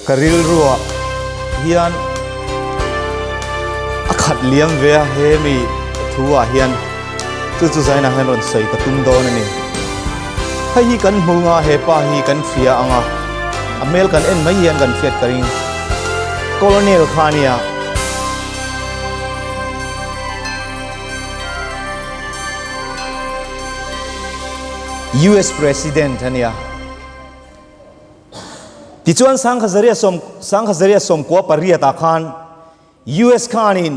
Ka rilruah hian a khat liam ve a, hemi thu ah hian chu chu zainah hian rawn sawi ka tum dawn a ni. Hei hi kan hmu nga he pa hi kan fia anga a hmel kan en mai hian kan fiat ka ring. Colonel kha nia. US President a nia. Tichuan Sanghazaria sawm Sanghazaria sawmkua pariat ah khan US khan in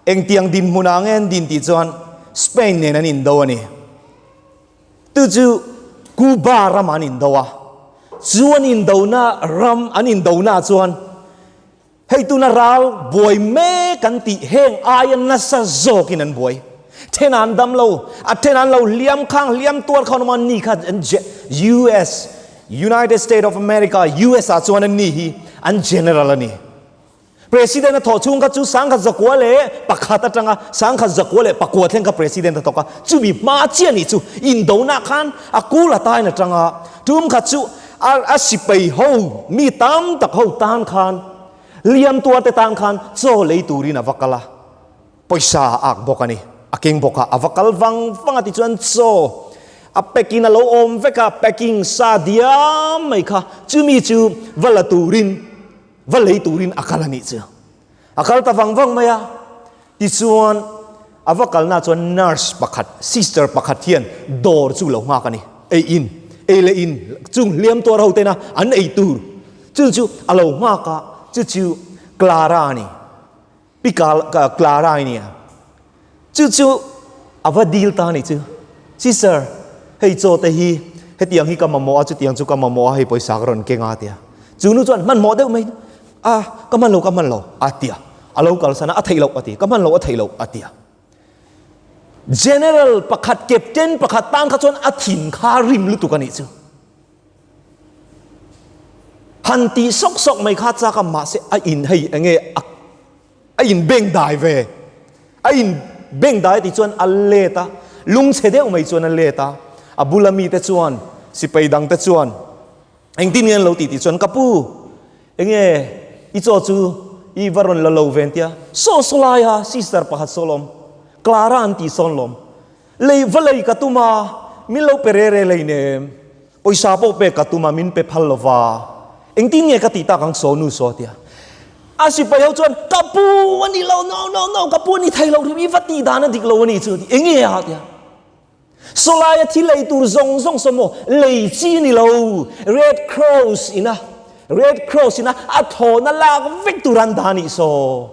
engtiang dinhmun ah ange an din tih chuan Spain nen an in do a ni. Tu chu Cuba ram ah an in do a. Chuan in do na ram an in do na chuan Hei tuna ral buai mek an tih heng aia nasa zawkin an buai. Then an dam lo, a then an lo hliam khang hliam tuar kha nawma ni kha an US, United State of America, usa, chuan an ni hi an General a ni. President a thawh chhung kha chu Sangkhat Zakua leh pakhat atanga Sangkhat Zakua leh pakua thleng kha President a thawk a, chumi hma chiah nih chu indona khan a kul atain atanga tum kha chu Ar a sipai ho mi tam tak ho tan khan liamtuar te tan khan chaw lei turin a va kal a, pawisa a ak bawk a ni. A keng bawk a, a va kal vang vang a tichuan chaw a pack in a lo awm vek a, packing sa diam mai kha chumi chu va la turin, va lei turin a kal a nih chu. A kal ta vang vang mai a. Tichuan a va kalnaah chuan nurse pakhat, sister pakhat hian dawr chu lo nghak a ni. Ei in, ei leh in chung hliam tuar ho tena an ei tur chu chu a lo nghak a, chu chu Clara a ni. Pi Clara a nia. Chu chu a va dil ta ni chu. Chi sir, hei chaw te hi hetiang hi ka mamawh a, chutiang chu ka mamawh a, hei pawisa ka rawn keng a tia. Chu nu chuan hmanhmawh deuh mai, a ka hman lo ka hman lo a tia. A lo kalsan a, a theih loh a ti, ka hman lo a theih loh a tia. General pakhat, Captain pakhat tan kha chuan a thin kha rim lutuk a nih chu. Han tih sawk sawk mai kha chak a, mahse a in hei enge a A in beng dai ve. A in beng dai ti chuan a let a. Lung chhe deuh mai chuan a let a. A bula mi te chuan, sipai dang te chuan, Eng tin nge an lo ti ti chuan, Ka pu, eng nge i chaw chu i va rawn la lo ve an tia. Saw saw lai a, sister pakhat saw lawm. Clara an ti sawn lawm. Lei va lei ka tum a, min lo pe rere lei nem. Pawisa pawh pek ka tum a, min pe phal lova. Engtin nge ka tih tak ang saw nu saw tia. A sipai ho chuan, Ka pu a nih lo, no, no, no, ka pu a ni thei lo, rim i va tih dan a dik lo a ni chu a ti. Eng nge a tia. Saw laia thil ei tur zawng zawng saw maw lei chi ni lo, Red Cross ina, Red Cross ina a thawhna lak vek tur an dah a nih saw.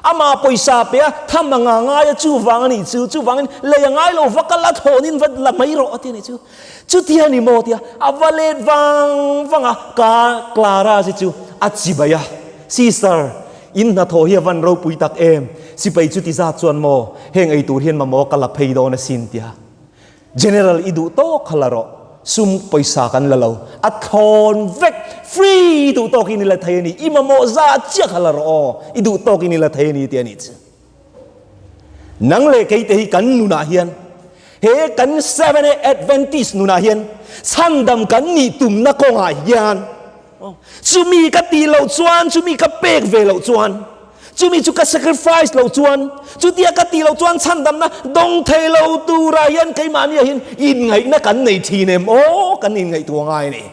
Amah pawisa pia tham a nga ngai a, chuvang a nih chu. Chuvangin lei a ngai lo vaka la thlawnin va la mai rawh a ti a nih chu. Chuti a ni maw tia a va let vang vang a, ka Clara hi chu a chi bai a, Sister, in hnathawh hi a van ropui tak em, sipai chuti zat chuan maw heng eitur hian mamawh ka la phei dawn asin tia. General i duh tawk kha la rawh, sum pawisa kan la lo, a thlawn vek, free i duh tawk i ni la thei a ni, i mamawh za chiah kha la rawh aw, i duh tawk i ni la thei a ni tih a ni chu. Nang leh kei te hi kan nunah hian, he kan Seventh-day Adventist nunah hian chhandam kan nih tumna kawngah hian, Chumi ka tih loh chuan, chumi ka pek ve loh chuan, chumi chu ka sacrifice loh chuan, chutia ka tih loh chuan chhandamna dawng thei lo tura hian keimahnia hian inngaihna kan nei thin em aw, kan inngaih tua ngai ni.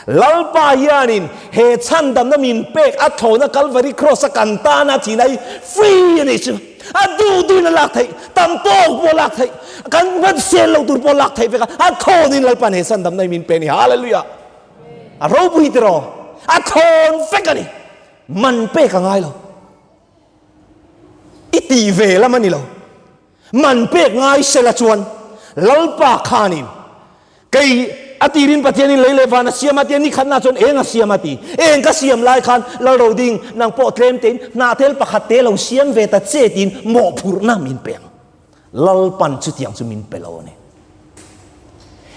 Lalpa hianin he chhandamna min pek a thlawna Calvary Cross a kan tana thin hi free a nih chu, a duhduhin a lak theih, tam tawk pawh a lak theih, kan hmabsel lo tur pawh a lak theih vek a, a thlawin Lalpa'n he chhandamna hi min pe a ni. Hallelujah! A ropui te rawh, a thawn vek a ni. Man pek a ngai lo. I tih ve lam a ni lo. Man pek ngai sela chuan Lalpa khanin kei a ti rin Pathianin lei leh van a siam a tia nikhatna chuan eng a siam a ti. Eng ka siam lai khan lal ro ding nang pawh tlemtein hnahtel pakhat te lo siam ve ta che tiin mawhphurhna min peng. Lalpan chutiang chu min pe lo a ni.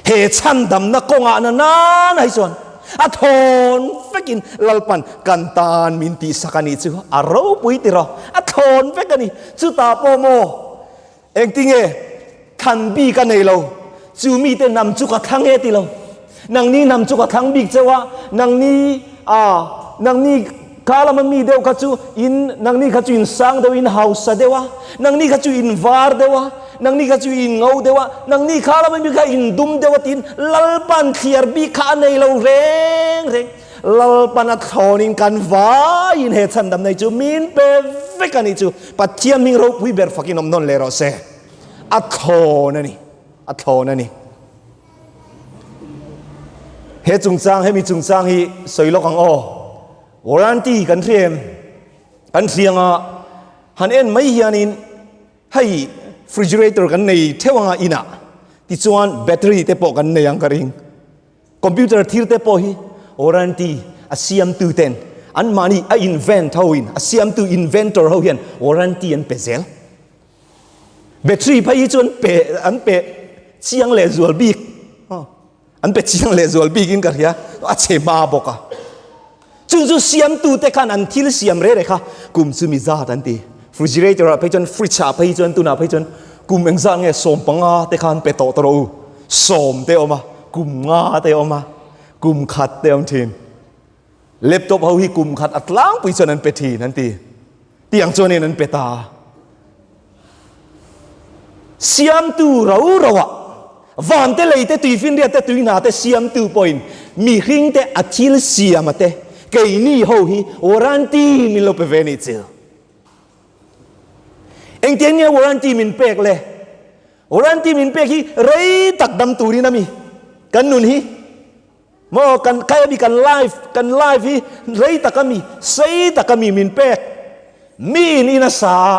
He chhandamna kawngah na nana hi chuan a thawn vekin Lalpan kan tan min tih sak a nih chu a ropui tira a thawn vek a ni. Chutah pawh maw engtinge than bik a nei lo, chu mite nam chu ka thla nge ti lo. Nangni hnam chu ka thlang bik cheu a, nangni ah nangni kha lama mi deuh kha chu in nangni kha chu in sang deuh, in hausa deuh a, nangni kha chu in var deuh a, nangni kha chu in ngo deuh a, nangni kha lama mi kha in dum deuh a tiin Lalpan thliar bik kha a nei lo reng reng. Lalpan a thlawn in kan vai in he chhandam nei chu min pe vek a nih chu Pathian hming ropui ber fakin awm nawn leh rawh se. A thlawn a ni, a thlawn a ni. He chungchang, hemi chungchang hi sawi lawk ang aw. Warranty kan hria em? Kan hria anga han en mai hianin hei refrigerator kan nei theuh anga inah tichuan battery te pawh kan nei ang ka ring. Computer thir te pawh hi warranty a siamtu ten anmahni a invent hoin a siamtu inventor ho hian warranty an pe zel. Battery phei hi chu an pe an pe chiang leh zual bik aw an pe chiang leh zual bik in ka hria a che hma bawk a chun chu siam tu te khan an thil siam re re kha kum chu mi zat an ti refrigerator a phei chun fridge a phei chun tuna phei chun kum eng zat nge sawm panga te khan pe tawh ta rawh u sawm te awm a kum nga te awm a kum khat te awm thin Laptop ho hi kum khat a tlangpui chuan an pe thin an ti. Tiang chuan in an pe ta. Siamtu ro roa vante leite tui finriat te tui na te siamtu pawhin mi hring te a thil siam a te keini ho hi warranty min lo pe ve ni chil. Engti eng nia warranty min pek le? Warranty min pek hi rei tak dam turin ami kan nun hi Maw kan khai ami kan life kan life hi rei tak ami sei tak ami min pek mi in in a sa a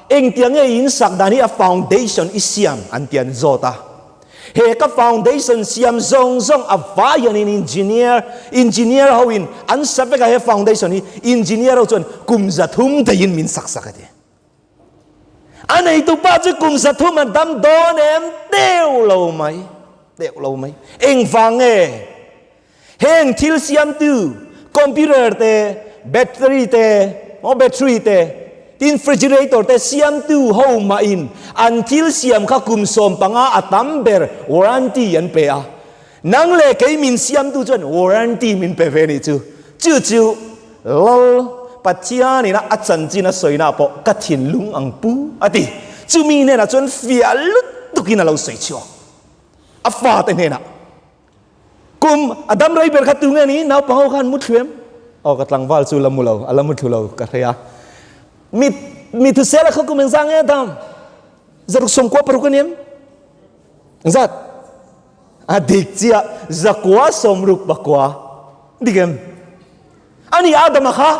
engtia nge i in sak dan hi a foundation i siam an ti an zawt a he ka foundation siam zawng zawng a vai hian in engineer engineer ho in an sa vek a he foundation hi engineer ho chuan kum za thum thei in min sak sak a ti. A neitu pa chu kum sathum a dam dawn em? Deuh lo mai, deuh lo mai. Engvang nge? Heng thil siamtu, computer te, battery te, maw battery te, tin frigerator te siamtu ho mahin an thil siam kha kum sawm panga a tam ber warranty an pe a. Nang leh kei min siamtu chuan warranty min pe ve nih chu. Chu chu lal Pathianin a chanchin a sawina pawh ka thinlung ang pu a ti. Chumi hnenah chuan fiah lut tukin a lo sawi chhuak. A fate hnenah, Kum a dam rei ber khat tu nge ni? Naupang ho khan mu thlu em? Aw ka tlangval chu la mu lo, a la mu thlu lo ka hre a. Mi mi thusela khaw kum engzah nge a dam? Zaruk sawmkua paruk a ni em? Engzat? A dik chiah zakua sawmruk bakua dik em a ni a dama kha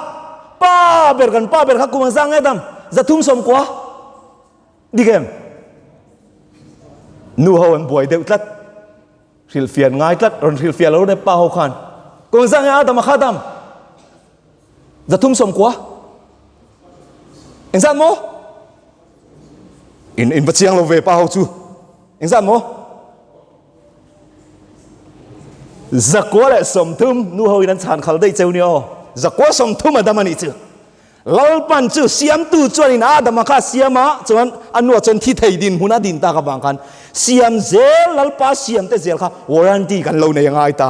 pa ber kan pa ber kha kum an zang nge dam za thum sawm kua dik em nu ho an buai deuh tlat hrilhfian ngai tlat rawn hrilhfiah lo ne pa ho khan kum an zang nge a dama kha dam Za thum sawm kua engzat maw? In in va chiang lo ve pa ho chu engzat maw? Za kua leh sawm thum nu ho in an chhan khal daih cheu nia aw. Za kua sawm thum a dam a nih chu. Lalpan chu siamtu chuan in a dama kha siam a chuan a nu a chuan thi thei din hmun a din tak avang khan siam zel lalpa siam te zel kha warranty kan lo nei a ngai ta.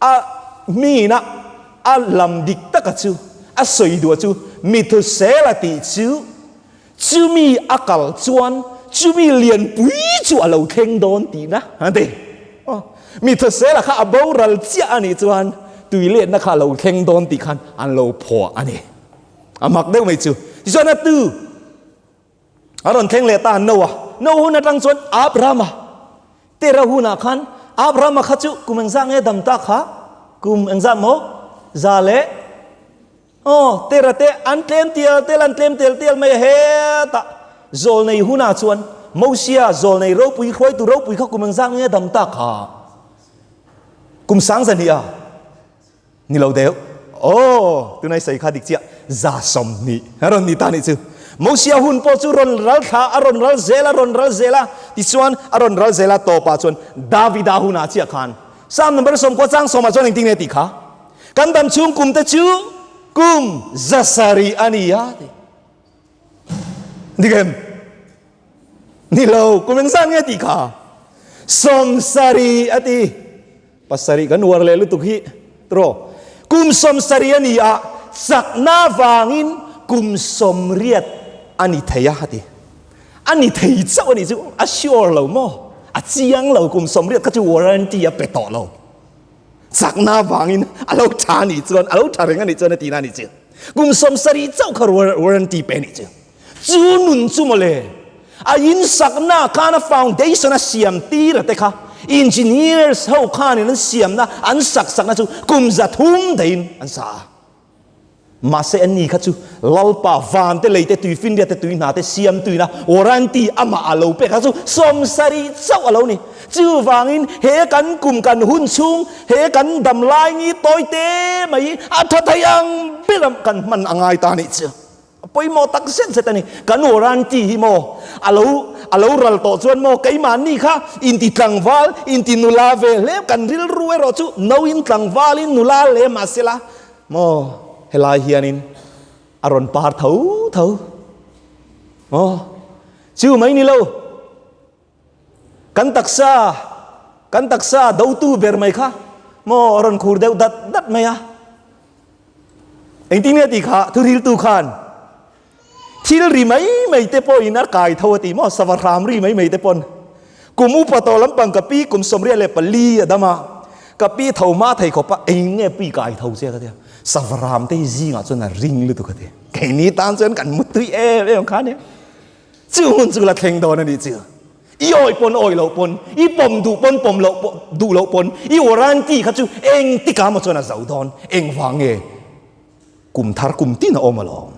A hmina a lam dik taka chu a sawi duh chu Mithusel a tih chu chumi a kal chuan chumi lianpui chu a lo thleng dawn tihna a ni. Aw, Mithusela kha a boral chiah a nih chuan tui letna kha a lo thleng dawn tih khan an lo phuah a ni. A mak deuh mai chu. Tichuan a tu A rawn thleng leh ta an no a. No hun atang chuan Abraham a, Terah hunah khan Abraham a kha chu kum engzah nge dam ta kha? Kum engzah maw? Za leh aw Terah te an tlem tial tial an tlem tel tial mai a hetah zawl nei hunah chuan Mosia zawl nei ropui hruai tur ropui kha kum engzah nge dam ta kha? Kum sang zan hnih a. Ni lo deuh. Aw, tunai sawi kha dik chiah. Za sawmhnih a rawn ni ta nih chu. Mosia hun pawh chu rawn ral thla, a rawn ral zel, a rawn ral zel a, tichuan a rawn ral zel a tawpah chuan Davida hunah chiah khan Psalm number sawm kua chang sawmah chuan engtin nge tih kha, Kan damchhung kumte chu kum zasarih a ni a ti. Dikhem. Nilo, kumeng zan nge ti kha. Som sari ati. Pasari kan uar le lutuk hi. Tro. Kum som sari ani a. Sak na vangin kum som riat ani thei a ati. Ani thei chau ani chu a sure lo mo. A chiang lo kum som riat kha chu warranty a pe tawh lo. Chakna vangin a lo tha a nih chuan, a lo tha reng a nih chuan a ti na a nih che. Kum sawmsarih chauh kha warranty pe a nih che. Chu nun chu mawle, a in sakna khan a foundation a siam tir a te kha engineers ho khanin an siamna, an sak sakna chu kum za thum dahin an sa a. Mahse an ni kha chu Lalpa, Vante, Leite, Tuifinriate, Tuihnate, Siamtuina, Warranty, amah a lo pek a chu sawmsari chauh a lo ni. Chuvangin he kan kum kan hun chhung, he kan dam laini tawite mai hi a tha thei ang ber ang kan hman a ngai ta nih chu. Pawimawh tak zet zet a ni. Kan warranty hi maw a lo a lo ral tawh chuan maw keimahni kha inti tlangval, inti nula ve hle kan rilru erawh chu nauin tlangvalin nula leh mah se la maw helai hianin a rawn par tho tho maw chu mai ni lo. Kan taksa a, kan taksa a dotu ber mai kha maw a rawn khur deuh dat dat mai a. Engtin nge ti kha thuriltu khan thil ri mai mai te pawhin a kai tho a ti maw, sava hram ri mai mai te pawn. Kum upa tawh lampang ka pi kum sawmriat leh pali a dam a, ka pi tho hma thei khawp a, engin nge pi kai tho che ka ti a, sava hram te hi zingah chuan a ring lutuk a ti. Keini tan chuan kan muttuih em em kha nia. Chu hmun chu la thleng dawn a nih chiah. I awih pawn awih loh pawn, i pawm duh pawn pawm loh pawn duh loh pawn, i warranty kha chu eng tikah amaw chuan a zo dawn. Engvang nge kum thar kum tin a awm alawm?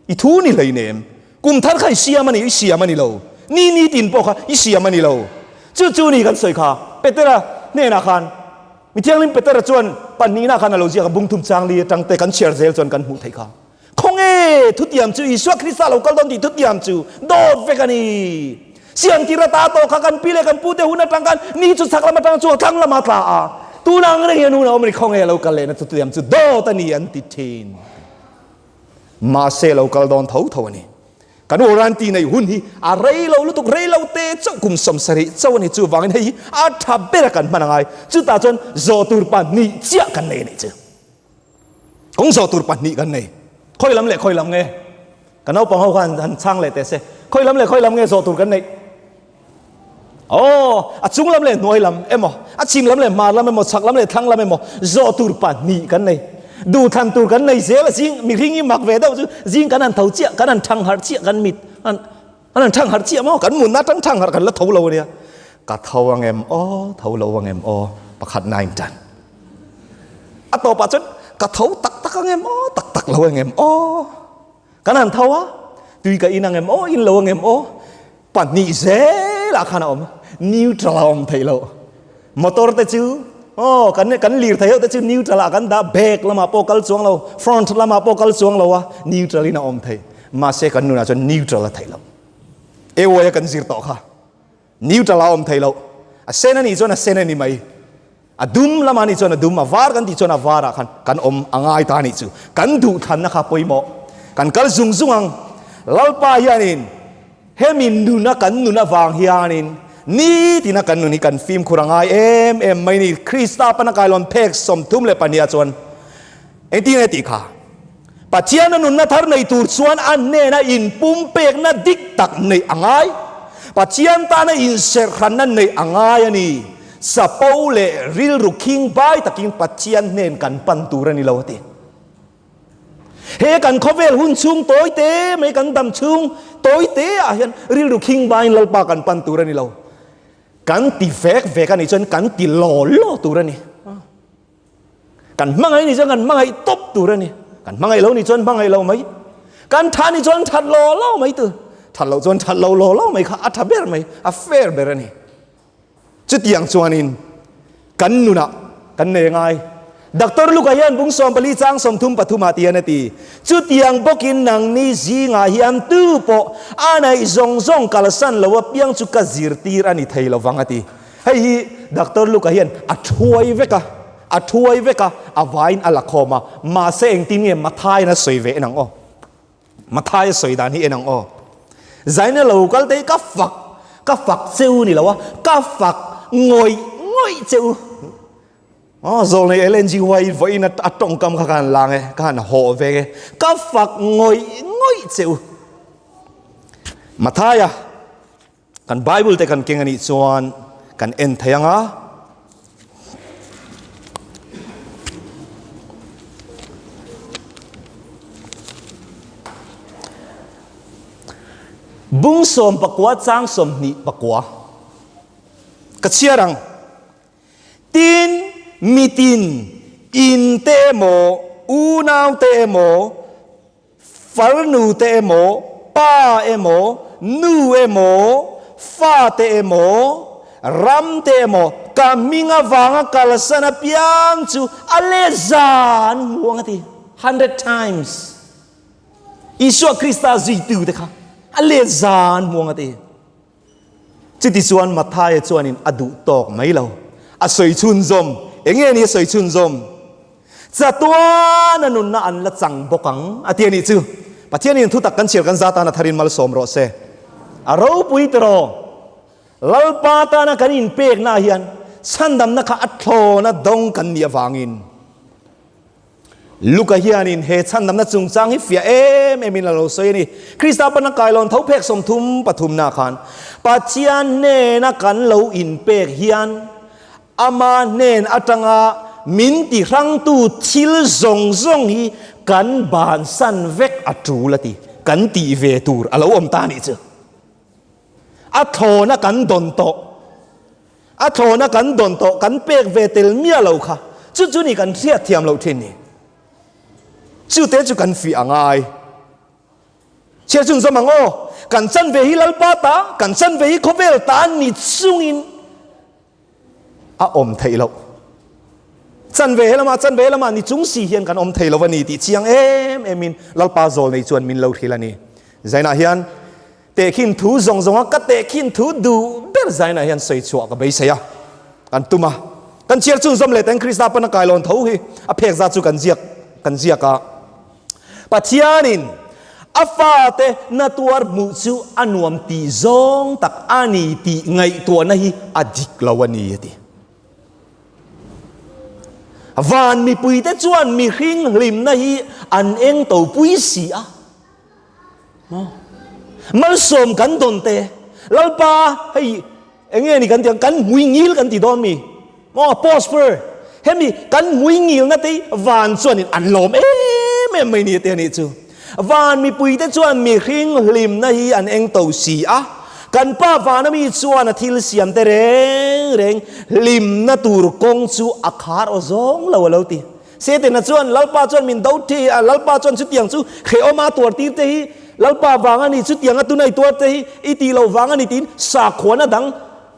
I thu ni hleinem. Kum thar kha i siam a ni, i siam a ni lo. Ni ni tin pawh kha i siam a ni lo. Chu chu ni kan sawi kha Petera hnenah khan Mi Thianghlim Petera chuan pahnihnah khan a lo ziak a, Bungthum Changli atangte kan chhiar zel chuan kan hmuh theih kha. Khawnge thutiam chu Isua Krista lo kal dawn tih thutiam chu dawt vek a ni? Siam tira ta tawh kha kan pi leh kan pute hun atang khan ni chu chhak lam atang chu a tlang lamah tla a, tuna ang reng hian hun a awm a ni. Khawnge lo kal lehna thutiam chu dawt a ni an ti thin? Mahse lo kal dawn tho tho a ni. Kan u Ranti neih hun hi a rei lo lutuk, rei lo te chauh kum sawm sarih chauh a ni. Chuvangin hei hi a tha bera kan hman a ngai. Chutah chuan zawh tur pahnih chiah kan nei a nih chu. Kawng zawh tur pahnih kan nei. Khawi lam leh khawi lam nge? Ka naupang ho khan han chhang leh teh se. Khawi lam leh khawi lam nge zawh tur kan neih? Aw, a chung lam leh hnuai lam emaw, a chhim lam leh hmar lam emaw, chhak lam leh thlang lam emaw, zawh tur pahnih kan nei. Duhthlan tur kan nei zel. Zing, mihring i mak ve deuh chu zing kan han tho chiah, kan han thang harh chiah, kan mit khan. An han thangharh chiah maw? Kan mutna atang thangharh kan la tho lo a nia. Ka tho a ngem aw, tho lo a ngem aw, pakhat nine tan. A tawpah chuan ka tho tak tak a ngem aw, tak tak lo a ngem aw. Kan han tho a, tui ka in a ngem aw, in lo a ngem aw. Pahnih zelah khan a awm a, neutral a awm theih loh. Motor te chu aw kan kan lir thei ho te chu neutral ah kan dah back lamah pawh kal chuang lo front lamah pawh kal chuang lo a neutral in a awm thei mahse kan nunah chuan neutral a thei lo ewaia kan zir tawh kha neutral a awm thei lo a sen ani chuan a sen ani mai a dum lama ani chuan a dum a var kan tih chuan a vara khan kan awm a ngai ta ni chu kan duh thlanna kha pawimawh kan kal zung zung ang lalpa hianin Hemi nun a kan nun avang hianin nitina kan nun hi kan fimkhur a ngai em em mai ni. Krista pan a kailawn phek sawmthum leh pahniha chuan engtin nge tih kha, Pathiana nunna thar nei tur chuan a hnena inpumpekna dik tak neih a ngai, Pathian tana inserhranna neih a ngai a ni. Sapo leh rilru khing bai takin Pathian hnen kan pan tur a ni lo a ti. He kan khawvel hun chhung tawi te mai kan dam chhung tawi te ah hian rilru khing vangin lalpa kan pan tur a ni lo. Kan ti vek vek a nih chuan kan ti law law tur a ni. Kan hmangaih nih chuan kan hmangaih tawp tur a ni. Kan hmangaih lo nih chuan hmangaih lo mai. Kan that nih chuan that law law mai tur. That loh chuan that lo law law mai kha a tha ber mai, a fair ber a ni. Chutiang chuanin kan nunah kan nei ngai. Doctor Luke-a hian bung sawm pali chang sawm thum pathum ah tian a ti. Chutiang bawkin nangni zingah hian tu pawh a naih zawng zawng kalsan lo apiang chu ka zirtir a ni thei lovang a ti. Hei hi Doctor Luke-a hian a thuai vek a, a thuai vek a, a vaiin a la khawm a, mahse engtin nge Matthai'n a sawi ve nang aw? Mathaia sawi dan hi en ang aw. Zaina lo kal tei ka fak ka fak cheu ni loa ka fak ngawih ngawih cheu aw zawl nei Ellen G Y vawi in a tawngkam kha ka han lang e ka han haw veng e ka fak ngawih ngawih cheu Mathaia Kan Bible te kan keng a nih chuan kan en thei ang a. Bung sawm pakua chang sawm hnih pakua ka chhiar ang. Tin mitin, in te emaw, unau te emaw, Farnu te emaw, pa emaw, nu emaw, fa te emaw, ram te emaw, ka hming avanga kalsan apiang chu a leza an hmuh ang a ti. Hundred times. Isua Krista zuitute kha a leza an hmuh ang a ti. Chutichuan Mathaia chuanin a duh tawk mai lo. A sawi chhunzawm, Enge nia sawi chhunzawm? Chatuan a nunna an la chang bawk ang a ti a nih chu. Pathian in thutak kan chhiar kan za tana tharin malsawm rawh se. A ropui ta rawh. Lalpa tana kan inpeknaah hian chhandamna kha a thlawn a dawng kan nih avangin. Luka hianin he chhan lamna chungchang hi fiah em emin a lo sawi a ni. Krista pana kailawn tho phek sawmthum pathumna khan Pathian hnena kan lo inpek hian ama hnen atanga min tihrangtu thil zawng zawng hi kan bansan vek a tul a ti kan tih ve tur a lo awm ta a nih chu. A thlawna kan dawn tawh, a thlawna kan dawn tawh, kan pek ve tel miah lo kha, chu chu ni kan hriat thiam loh thin ni. Chute chu kan fiah a ngai. Chhiar chun zawm ang aw, kan chanve hi Lalpa ta, kan chanve hi khawvel ta ni chungin a awm theih loh. Chanve he lama, chanve he lama ni chung si hian kan awm thei lo a ni tih chiang em emin Lalpa Zawl nei chuan min lo hrilh a ni. Zainah hian tehkhin thu zawng zawng a, ka tehkhin thu duh ber Zainah hian sawi chhuah ka beisei a, kan tum a. Kan chiar chungzawm leh teng Krista pana kailawn tho hi a phek za chu kan ziak kan ziak a. Pathianin a fate na tuar hmuh chu a nuam tih zawng tak a ni tih ngaihtuahna hi a dik lo a ni a ti. Van mipuite chuan mihring hlimna hi an eng topui si a. Maw? Malsawm kan dawn te, Lalpa hei eng nge ni kan ti ang, kan mui ngil kan ti dawn mi. Maw? Prosper. Hemi kan mui ngil na te van chuan in an lawm em em mai ni te ni chu. Van mipui te chuan mi hring hlim na hi an eng to si a. Kan pa van ami chuan a thil siam te reng reng hlim na tur kawng chu a khar aw zawng lo a lo ti. Setena chuan Lalpa chuan min do thei a, Lalpa chuan chutiang chu Kheawma tuartir te hi Lalpa vang a ni, chutiang a tunai tuar te hi i tih lo vang a ni tiin sakhuana dang,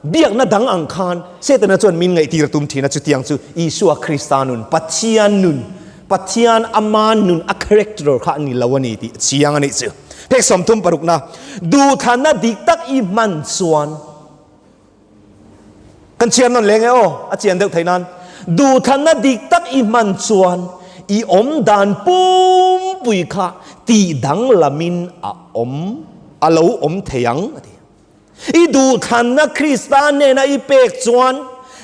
biakna dang ang khan Setena chuan min ngaihtir a tum thin a, chutiang chu Isua Krista nun, Pathian nun, Pathian Ama nun a character kha a ni lo a ni tih a chiang a nih chu. Phek sawmthum parukna duhthana dik tak i hman chuan. Kan chhiar nawn leng e aw, a chian deuh theih nan duhthana dik tak i hman chuan i awm dan pumpui kha tihdang lamin a awm a lo awm thei ang a ti. I duhthana Krista hnena i pek chuan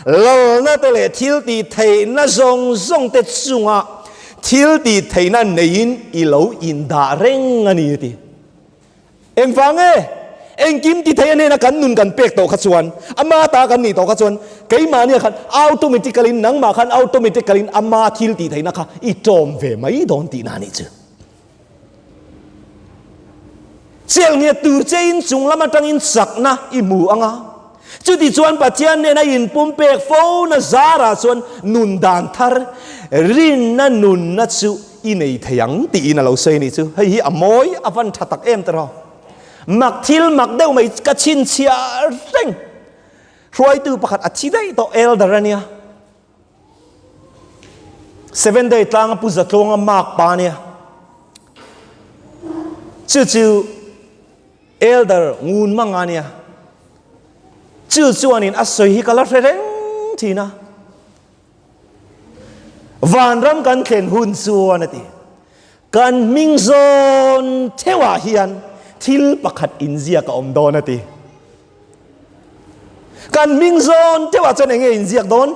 lalna te leh thil tih theihna zawng zawng te chunga thil tih theihna neiin i lo indah reng a ni a ti. Engvang nge? Engkim tithei a hnena kan nun kan pek tawh kha chuan, ama ta kan nih tawh kha chuan, keimahnia khan automatically in, nangmah khan automatically in ama thil tihtheihna kha i tlawm ve mai dawn tihna a nih chu. Chel nghet tur che in chunglam atangin chakna i hmu anga Chutichuan Pathian nen a inpumpek fo na zarah chuan nun dan thar rinna nunna chu i nei thei ang tiin a lo sawi a nih chu. Hei hi a mawi a van tha tak em tawrhaw. Mak thil mak deuh mai ka chhinchhiah reng. Hruaitu pakhat a thi daih tawh elder a nia. Seven day tlanga pu zatlonga mak pa nia chu chu elder ngun manga nia chu chuanin a soi hi kala hre reng thina vanram kan thlen hun chuan ati Kan hming zawn theuh ah hian thil pakhat inziak a awm dawn a ti. Kan hming zawn theuh ah chuan eng nge inziak dawn?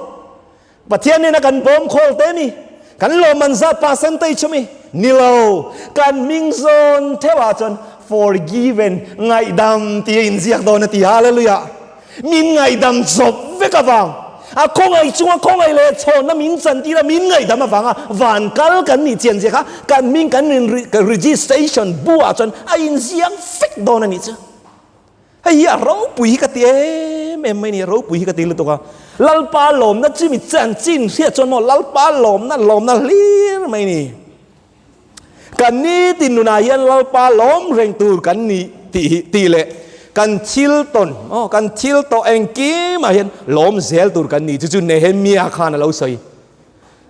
Pathian nena kan bawm khawl te mi, kan lawmman zat pa san tei chu mi? Nilo, kan hming zawn theuh ah chuan forgiven, ngaihdam, tia inziak dawn a ti. Hallelujah! Min ngaihdam zawp vek avang, a khawngaih chunga khawngaih leh chhawnna min chan tira min ngaihdam avanga van kal kan nih chian zia kha kan min kan rin registration buah chuan a inziak vek dawn a nih chu. Hei hi a ropui hi ka ti em em mai ni, a ropui hi ka ti lutuk a. Lalpa lawmna chimi chanchin hriat chuan maw, Lalpa lawmna, lawmna hlir mai ni. Kan nitin nunah hian Lalpa lawm reng tur kan ni tih hi ti leh kan thil tawn aw kan thil tawh engkimah hian lawm zel tur kan ni chu chu Nehemia khan a lo sawi.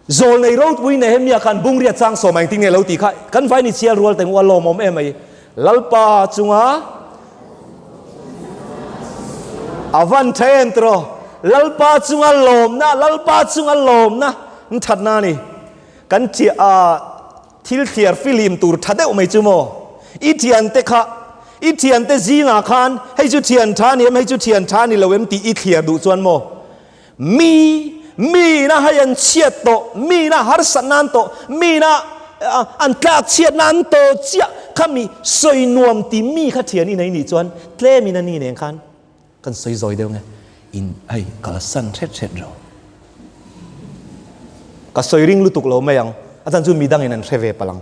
Zawl nei ropui Nehemia khan bungriat chang sawma engtin nge lo tih kha kan vai ni chial rual tengua lawmawm em mai. Lalpa chunga a van then tur aw Lalpa chunga lawmna Lalpa chunga lawmna thatna a ni. Kan chiah a thil thliar filim tur tha deuh mai chu maw? I thian te kha, i thian te zingah khan hei chu thian tha ni em, hei chu thian tha ni lo em tih i thliar duh chuan maw? Mi, mina hei an chhiat tawh, mina harsat nan tawh, mina an tlak chhiat nan tawh chiah kha mi sawi nuam tih mi kha thian i nei nih chuan tlem in a ni nen khan Kan sawi zawi deuh nge in hei ka la san hret hret lo. Ka sawi ring lutuk lo mai ang a chan chu midang in an hre ve palang.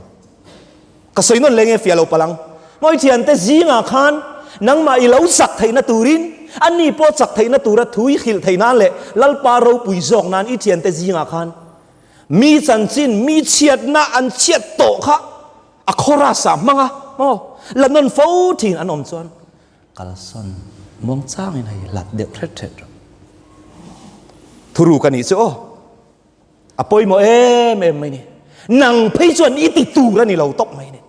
Ka sawi nawn leh nge fiah lo palang. Mawi thian te zingah khan nangmah i lo chak theihna turin an ni pawh chak theihna tura thu i hrilh thei nan leh Lalpa ropui zawk nan i thian te zingah khan mi chanchin mi chhiatna an chhiat tawh kha a chorus ah hmang a maw la nawn fo thin an awm chuan Kalsawn muang chang in hei hlat deuh hret hret rawh. Thuru ka nih chu aw. A pawimawh em em mai ni. Nang phei chuan i ti tur a ni lo tawp mai ni.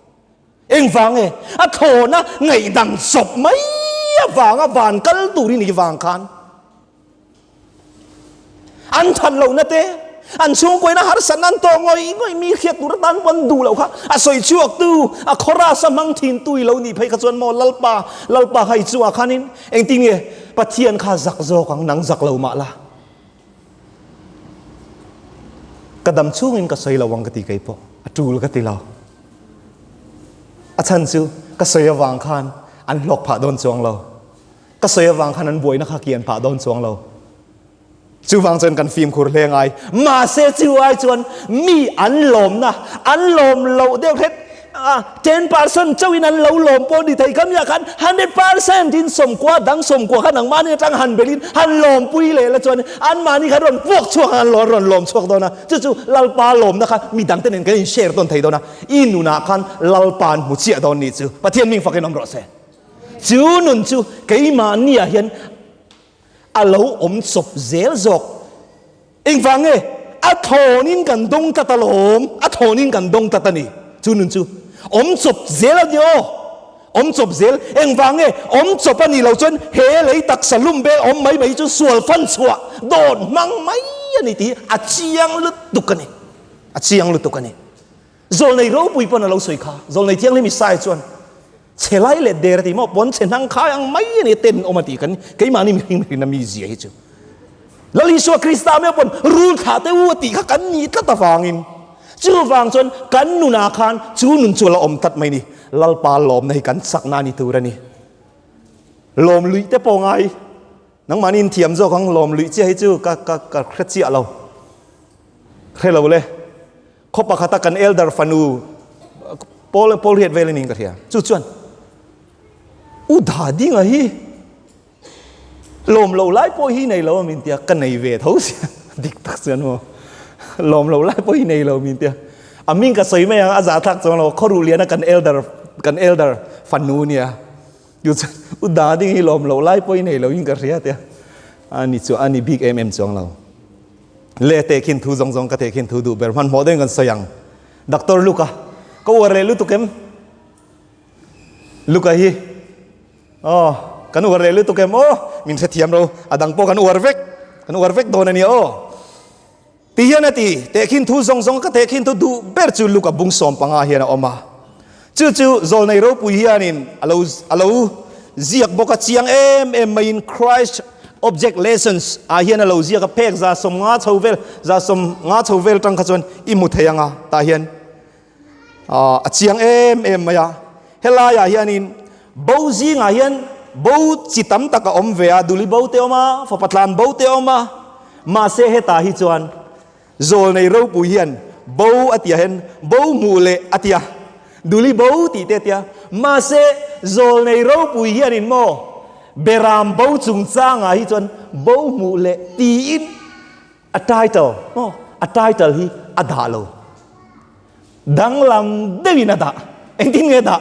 Engvang e, a thlawna ngaihdang sawp mai avanga van kal tur i nih vang khan. an that lo na te an chhung pawina harsatna an tawk ngawih ngawih mi hriat tur atan pawh an duh lo kha a sawi chhuak tu a chorus a hmang thin tu i lo nih phei kha chuan maw lalpa lalpa kha i chungah khanin engtin nge pathian kha zak zawk ang nang zak lo mah la ka dam chungin ka sawi lo ang ka ti kei pawh a tul ka ti lo a chhan chu ka sawi avang khan an hlawk phah dawn chuang lo Ka sawi avang khan an buaina kha kian pah dawn chuang lo. Chuvang chuan kan fimkhur hle ngai. Mahse chuvai chuan mi an lawmna an lawm loh deuh hret a, ten percent chauhin an lo lawm pawh ni thei kamiah khan hundred percent in sawmkua dang sawmkua kha nangmahni atang han belhin han lawmpui leh la chuan anmahni kha rawn puak chhuak ang an rawn lawm chhuak dawn a. Chu chu Lalpa lawmna kha midangte nen kan inshare dawn thei dawn a, i nunah khan Lalpa'n hmu chiah dawn nih chu Pathian ming fakin awm rawh se. Chu nun chu keimahniah hian a lo awm chawp zel zawk. Engvang nge? A thawnin kan dawng tlat alawm, a thawnin kan dawng tlat a ni. Chu nun chu awm chawp zel a ni aw, awm chawp zel. Engvang nge? Awm chawp a nih loh chuan he lei taksa lum vel awm mai mai chu sual fan chhuah dawt hmang mai a ni tih hi a chiang lutuk a ni, a chiang lutuk a ni. Zawlnei ropui pawn a lo sawi kha, Zawlnei Thianghlim Isaiah chuan. Chhe lai let der a ti maw? Puan chhe hnang khai ang mai a ni, ten in awm a ti kha ni. Keimahni mihring hrin a mi zia hi chu Lal Isua Krista me pawn rul thlah te u a tih kha kan ni tlat avangin, chuvang chuan kan nunah khan chu nun chu ala awm tlat mai a ni. Lalpa lawmna hi kan chakna a ni tur a ni. Lawm luih te pawnga hi nangmahni inthiam zawk ang, lawm luih chiah hi chu ka ka ka hre chiah lo, hre lo le. Khaw pakhata kan elder fanu Paul Paul Riat vela ning ka hria. Chu chuan u da ding a hi lawm lo lai pawh hi nei lo min tia ka nei ve tho sia dik tak chuan ho lawm lo lai pawh hi nei lo min tia a ming ka sawi mai ang a za thlak chuan lo khaw ruh liana kan elder kan elder fanu nia chu chuan u da ding hi lawm lo lai pawh hi nei lo in ka hria tia ani chu ani big mm chuang lo Leh teh khin thu zawng zawng ka teh khin thu duh ber hman hmawh dawn kan sawi ang. Doctor Luka, ka uar leh lutuk em? Luka hi, Aw, kan uar leh lutuk em? Aw, min hrethiam ro, a dang pawh kan uar vek, kan uar vek dawn a nia aw. Ti hian a ti. Teh khin thu zawng zawng ka teh khin thu duh ber chu Luka bung sawm panga hian a awm a. Chu chu zawlnei ropui hianin a lo a lo ziak bawk a, chiang em em maiin Christ Object Lessons ah hian a lo ziak a, phek za sawm nga chho vel, za sawm nga chho vel tang kha chuan i hmu thei ang a, tah hian a chiang em em mai a. Helaiah hianin bo zingah hian bo chi tam tak a awm ve a, duli bo te a awm a, fapa tlan bo te a awm a, mahse hetah hi chuan Zawl nei ropui hian Bo a ti a hen, Bo hmuh le a ti a, Duli Bo tih te a ti a. Mahse, Zawl nei ropui hianin maw Beram Bo chungchangah hi chuan Bo hmuh le tiin a title maw a title hi a dah lo. Danglam deuhin a dah. Engtin nge dah?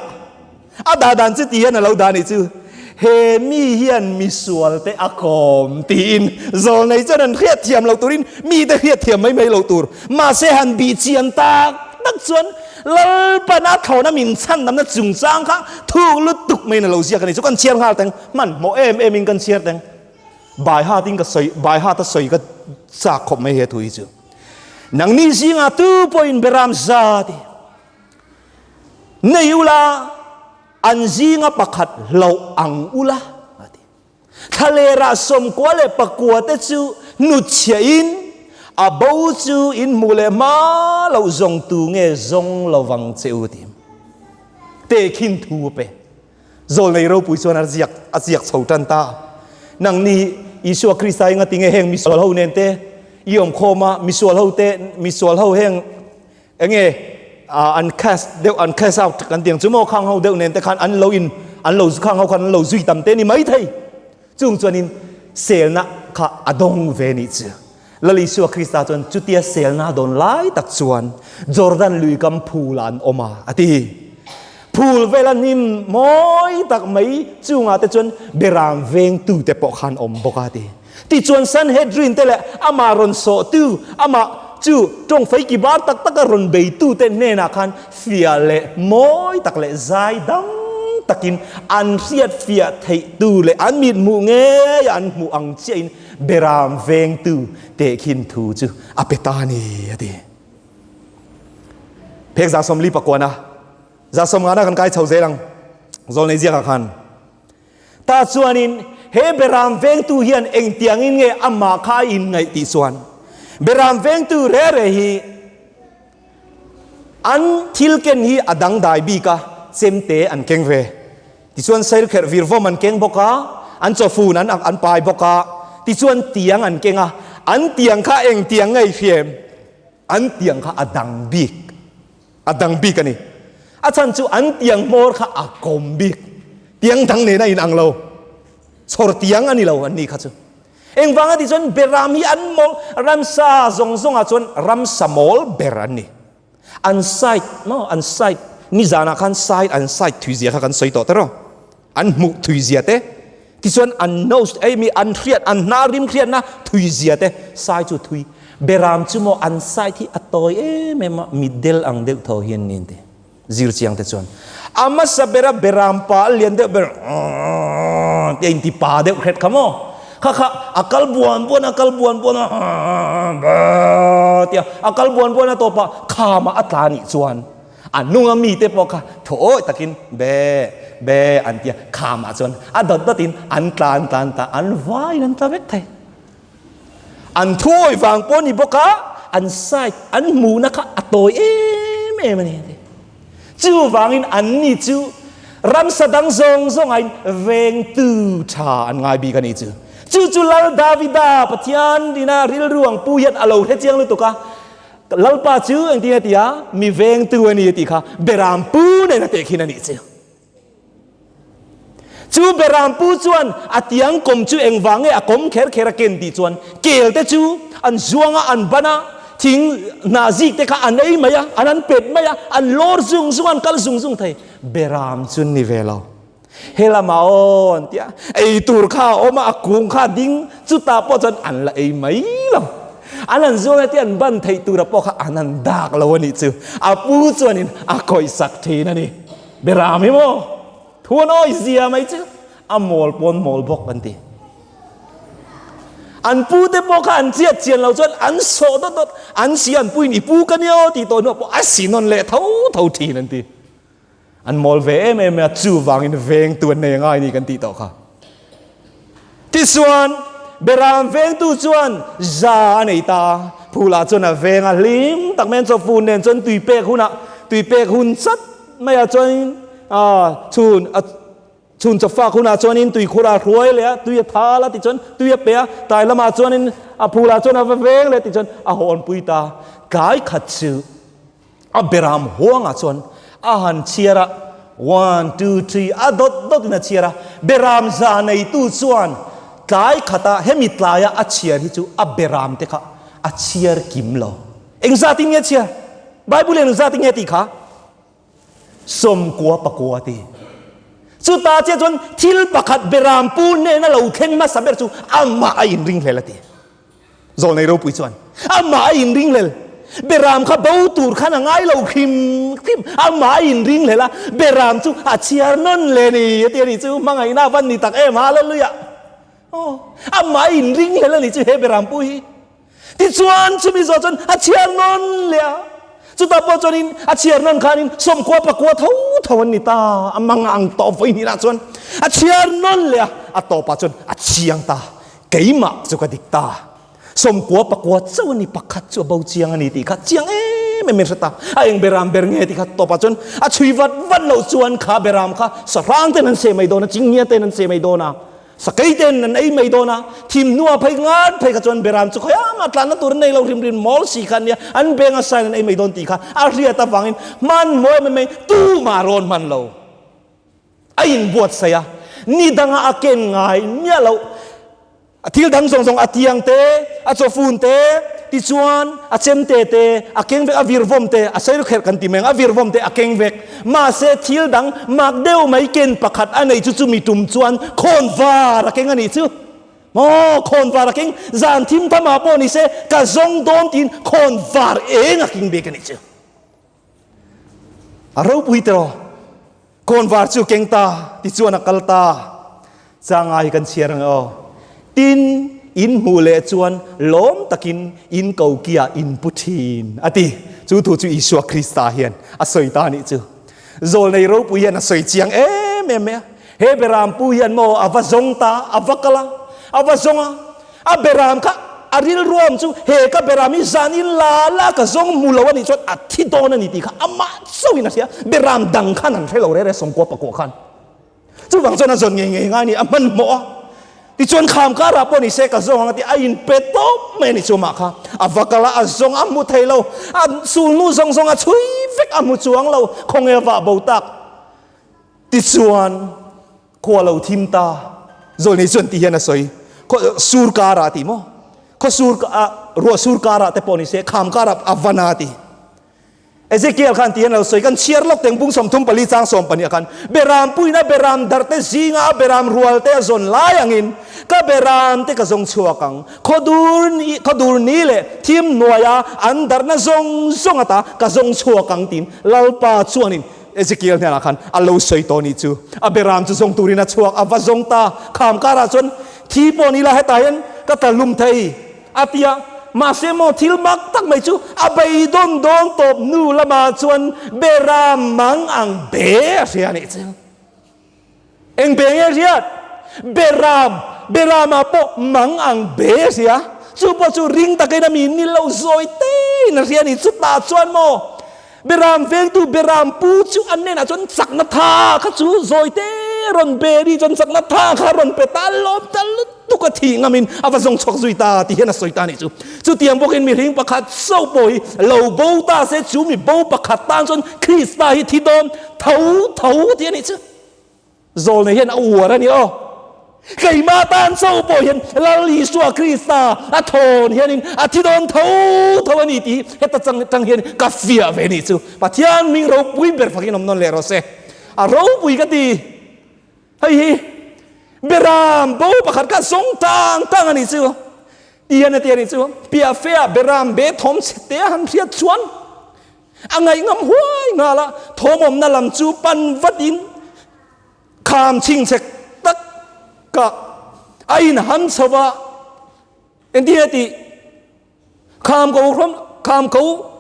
A dah dan chu ti hian a lo dah a nih chu. He mi hian misual te a khawm tiin zawl nei chuan han hriat thiam lo turin mite hriat thiam mai mai lo tur. Mahse han bih chian tak tak chuan Lalpana thlawhna min chhan damna chungchang kha thu lutuk maiin a lo ziak a nih chu. Kan chhiar nghal teng. Hmanhmawh em emin kan chhiar teng. Baihatin ka sawi, Baihata sawi ka chak khawp mai he thu hi chu. Nangni zingah tu pawhin Beram zat i nei ula, an zinga pakhat hlauh ang ula a ti. Thalera sawmkua leh pakua te chu hnutchhiah in a bo chu in hmuh leh hma loh zawng tu nge zawng lo vang che u ti. Te khin thu pe. Zawl nei ropui chuan a ziak a ziak chho tan ta. Nang ni Isua Krista hi ngati nge heng misual ho nen te i awm khawm a, misual ho te misual ho heng enge an cast deuh an cast out kan tih ang chu maw khang ho deuh nen te khan an lo in an lo khang ho khan an lo zui tam te ni mai thei. Chung chuan in selna kha a dawng ve ni chu. Lal Isua Krista chuan chutia selna dawn lai tak chuan Jordan lui kam phulah an awm a, a ti. Phul vela hnim mawi tak mai chungah te chuan berang veng tute pawh kha an awm bawk a, a ti. Tichuan Sanhedrin te leh amah rawn sawhtu, amah chu ṭawng faiki bar tak taka rawn bei tute hnenah khan fia leh mawi tak leh zai dang takin an hriatfiah theihtu leh an mithmuh ngeiah an hmuh ang chiahin Berang veng tu teh khin thu chu a pe ta ni a ti. Phek za sawm li pakuan a za sawm ngana kan kai chho zel ang zawl nei ziak ah khan ta chuan in he berang veng tu hian eng tiang in nge amah kha a in ngaih tih chuan berang veng tu reh reh hi An thil ken hi a dangdai bik a, chem te an keng ve. Tichuan sailkherh vir vawm an keng bawk a, an chawfun an ak an pai bawk a, tichuan tiang an keng a, an tiang kha eng tiang ngei fiam? An tiang kha a dang bik, a dang bik a ni. A chhan chu an tiang hmawr kha a kawm bik, tiang dang nena in ang lo, chhawr tiang a ni lo an nih kha chu. Engvanga tih chuan Beram hi an mawng ramsa zawng zawngah chuan ramsa mawl ber an ni. An side maw an side nizanah khan side an side thuizia kha kan sawi tawh ta reuh an hmuh thuizia te tichuan an nose ei mi an hriat an hna rim hriatna thuizia te side chu thui Beram chu maw an side hi a tawi em em a mi del ang deuh tho hian ni an ti. Zir chiang te chuan a hmasa bera beram pa a lian deuh ber ti a inti pa deuh hret kha maw? Kha kha a kal buan buan a kal buan buan a tia a kal buan buan a tawpa khama a tla nih chuan a hnunga mite pawh kha thawi takin be be an tia khama chuan a dawt dawt in an tla an tla an tla an vai in an tla vek thei. An thuawi vang pawh a ni bawk a, an side, an hmuhna kha a tawi em em a ni a ti. Chu vangin anni chu ramsa dang zawng zawngahin veng tu tha an ngai bik a ni chu. Chu chu Lal Davida Pathian ina rilruang pu hian a lo hre chiang lutuk a, Ka Lalpa chu engtin a ti a, mi veng tu a ni a tih kha Beram pu nen a teh khin a nih chu. Chu Beraam pu chuan a tiang kawm chu engvang nge a kawm kher kher a ken tih chuan kelte chu an zuang a, an ban a, thing hnah zik te kha an ei mai a, an han pet mai a, an lawr zung zung a, an kal zung zung thei. Beraam chu ni ve lo, he lama aw an ti a, ei tur kha a awm a, a kung kha a ding, chutah pawh chuan an la ei mai lo. An han zuang a tia an ban theih tura pawh kha an han dak lo a nih chu, a pu chuan in a kawihsak thin a ni. Bera mi maw? Thu an awi zia mai chu. A mawl pawn mawl bawk an ti. An pu te pawh kha an chiat chian lo chuan an sawh dawt dawt. An sia an puin i pu ka nia aw tih tawh hnuah pawh a sin nawn leh tho tho thin an ti. An mawl ve em em mai a, chuvangin veng tu an nei a ngai ni kan tih tawh kha. Tichuan, bera an vengtu chuan za a nei ta a, phula chuan a veng a hlim tak mai a, chuan phul nen chuan tui pek hunah, tui pek hun sat maiah chuanin aah chhun a chhun chawp fak hunah chuanin tui khurah a hruai leh a, tui a thal a tichuan tui a pe a, tlai lamah chuanin a phula chuan a va veng leh tichuan a hawnpui ta a. Tlai khat chu. A beram huangah chuan a han chhiar a, one, two, three, a dawt dawt in a chhiar a. Beram za neitu chuan tlai khata hemi tlaia a chhiar hi chu a beram te kha a chhiar kim lo. Engzat in nge chhiar? Bible in engzat in nge tih kha? Sawmkua pakua a ti. Chuta chiah chuan thil pakhat beram pu hnena lo thleng hmasa ber chu amah a inring hlel a ti. Zawlnei ropui chuan amah a inring hlel Behram kha bo tur khan a ngai lo hrim hrim. Amah a inring hlel a, Behram chu a chhiar nawn le ni a ti a nih chu, hmangaihna a van ni tak em ha luih luih a. Aw, amah a inring hlel a nih chu he Behram pu hi. Tichuan chumi zawh chuan a chhiar nawn leh a. Chutah pawh chuan in a chhiar nawn khan in sawmkhua pakua tho tho an ni ta. Amah ngang tawp vawiin hi lah chuan a chhiar nawn leh a, a tawpah chuan a chiang ta. Keimah chu ka dik ta, sawmkua pakua chauh a ni, pakhat chu a bo chiang a ni tih kha chiang em em mai hre ta. A eng beram ber nge tih kha tawpah chuan a chhui vat vat loh chuan kha beram kha sahrang ten an se mai dawn a, chingngial ten an se mai dawn a, sakei ten an ei mai dawn a, thim hnua phei ngat phei kha chuan beram chu khawi a mah tlanna tur nei lo hrim hrim mawl si kha an nia, an benga sign an ei mai dawn tih kha a hriat avangin hman maw em em mai, tumah rawn hman lo. A inbuatsaih a, ni danga a ken ngai miah loh. A thil dang zawng zawng a tiang te, a chaw fun te, tichuan a chemte te, a keng vek, a virvawm te, a sail kherh kan ti mai ang, a virvawm te a keng vek. Mahse, thil dang mak deuh mai ken pakhat a nei chu chu mi tum chuan khawn var a keng a nih chu. Maw, khawn var a keng, zan thim thamah pawh ni se, ka zawng dawn tiin khawn var eng a keng bik a nih chu. A ropui te rawh. Kawn var chu keng ta ti chuan a kal ta. Changa hi kan chhiar ang aw. Tin in hmuh leh chuan lawm takin in ko kia in pu thin a ti. Chu thu chu Isua Krista hian a sawi ta a nih chu. Zawlnei ropui hian a sawi chiang em em mai a. He Beram pu hian maw a va zawng ta, a va kal a, a va zawng a, a Beram kha a rilruam chu he ka Beram hi zan in la la ka zawng mu lo a nih chuan a thi dawn a ni tih kha amah chauhin a hria a, Beram dang khan an hre lo rere sawngkua pakua khan chuvang chuan a zawn ngei ngei ngai a ni, a hman hmawh a, tichuan kham karah pawh ni se ka zawng ang a ti a in pe tawp mai a nih chu amah kha a va kal a, a zawng a hmu thei lo a sulnu zawng zawng a chhui vek a hmu chuang lo, khawnge vah bo tak. Tichuan, khua lo thim ta zawl ni chuan ti hian a sawi, Khaw sur karah a ti maw? Khaw sur ah, ruah sur karah te pawh ni se, kham karah a van a a ti. Ezekiel khan ti hian a lo sawi, Kan chhiar lawk teng bung sawmthum pali chang sawm pahnih ah khan Beram puin a Beram darh te zingah a Beram rual te a zawn lai angin ka Beram te ka zawng chhuak ang. Khaw dur ni, khaw dur ni leh thim hnuaia an darhna zawng zawng a ta ka zawng chhuak ang tiin Lalpa chuan in Ezekiel hnenah khan a lo sawi tawh anih chu, a be ram chu zawng turin a chhuak, a va zawng ta. Kham karah chuan, Thi pawh ni la, heta hian ka ta lum thei, a ti a. Mahse maw thil mak tak mai chu a beidawn dawn tawp nu lamah chuan be ram mang ang be a hria a nih che. Eng be nge riat? Beram, beram ah pawh mang ang be a si a, chu pawh chu ring takin a min nil lo zawi te in a hria ni, chutah chuan maw beram vengtu beram pu chu an nen ah chuan chakna tha kha chu zawi te rawn be ni chuan chakna tha kha rawn pe ta lawm ta lutuk a thih ngam in a va zawng chhuak zui ta tih hian a sawi ta ni chu, chutiang bawk in mi hring pakhat chauh pawh hi lo bo ta se chu mi bo pakhat tan chuan Krista hi thi dawn Tho tho tih a nih chu. Zawl nei hian a uar a ni aw. Keimah tan cho pawh hian Lal Isua Krista a thawn hianin a thi dawn tho tho a ni tih hi heta chang tang hian ka fiah ve ni chu. Pathian min ropui ber fakin awm nawn leh rawh se. A ropui ka ti. Hei hi Beram bo pakhat kha zawng tang tang a ni chu. Ti hian a ti a ni chu. Piahfeah Beram be thawm chhe te a han hriat chuan. A ngaihngham huai nghal a thawmawmna lam chu pan vat in kham chhing chek tak ka a in han chho va, engtin a tih kham ko hram kham ko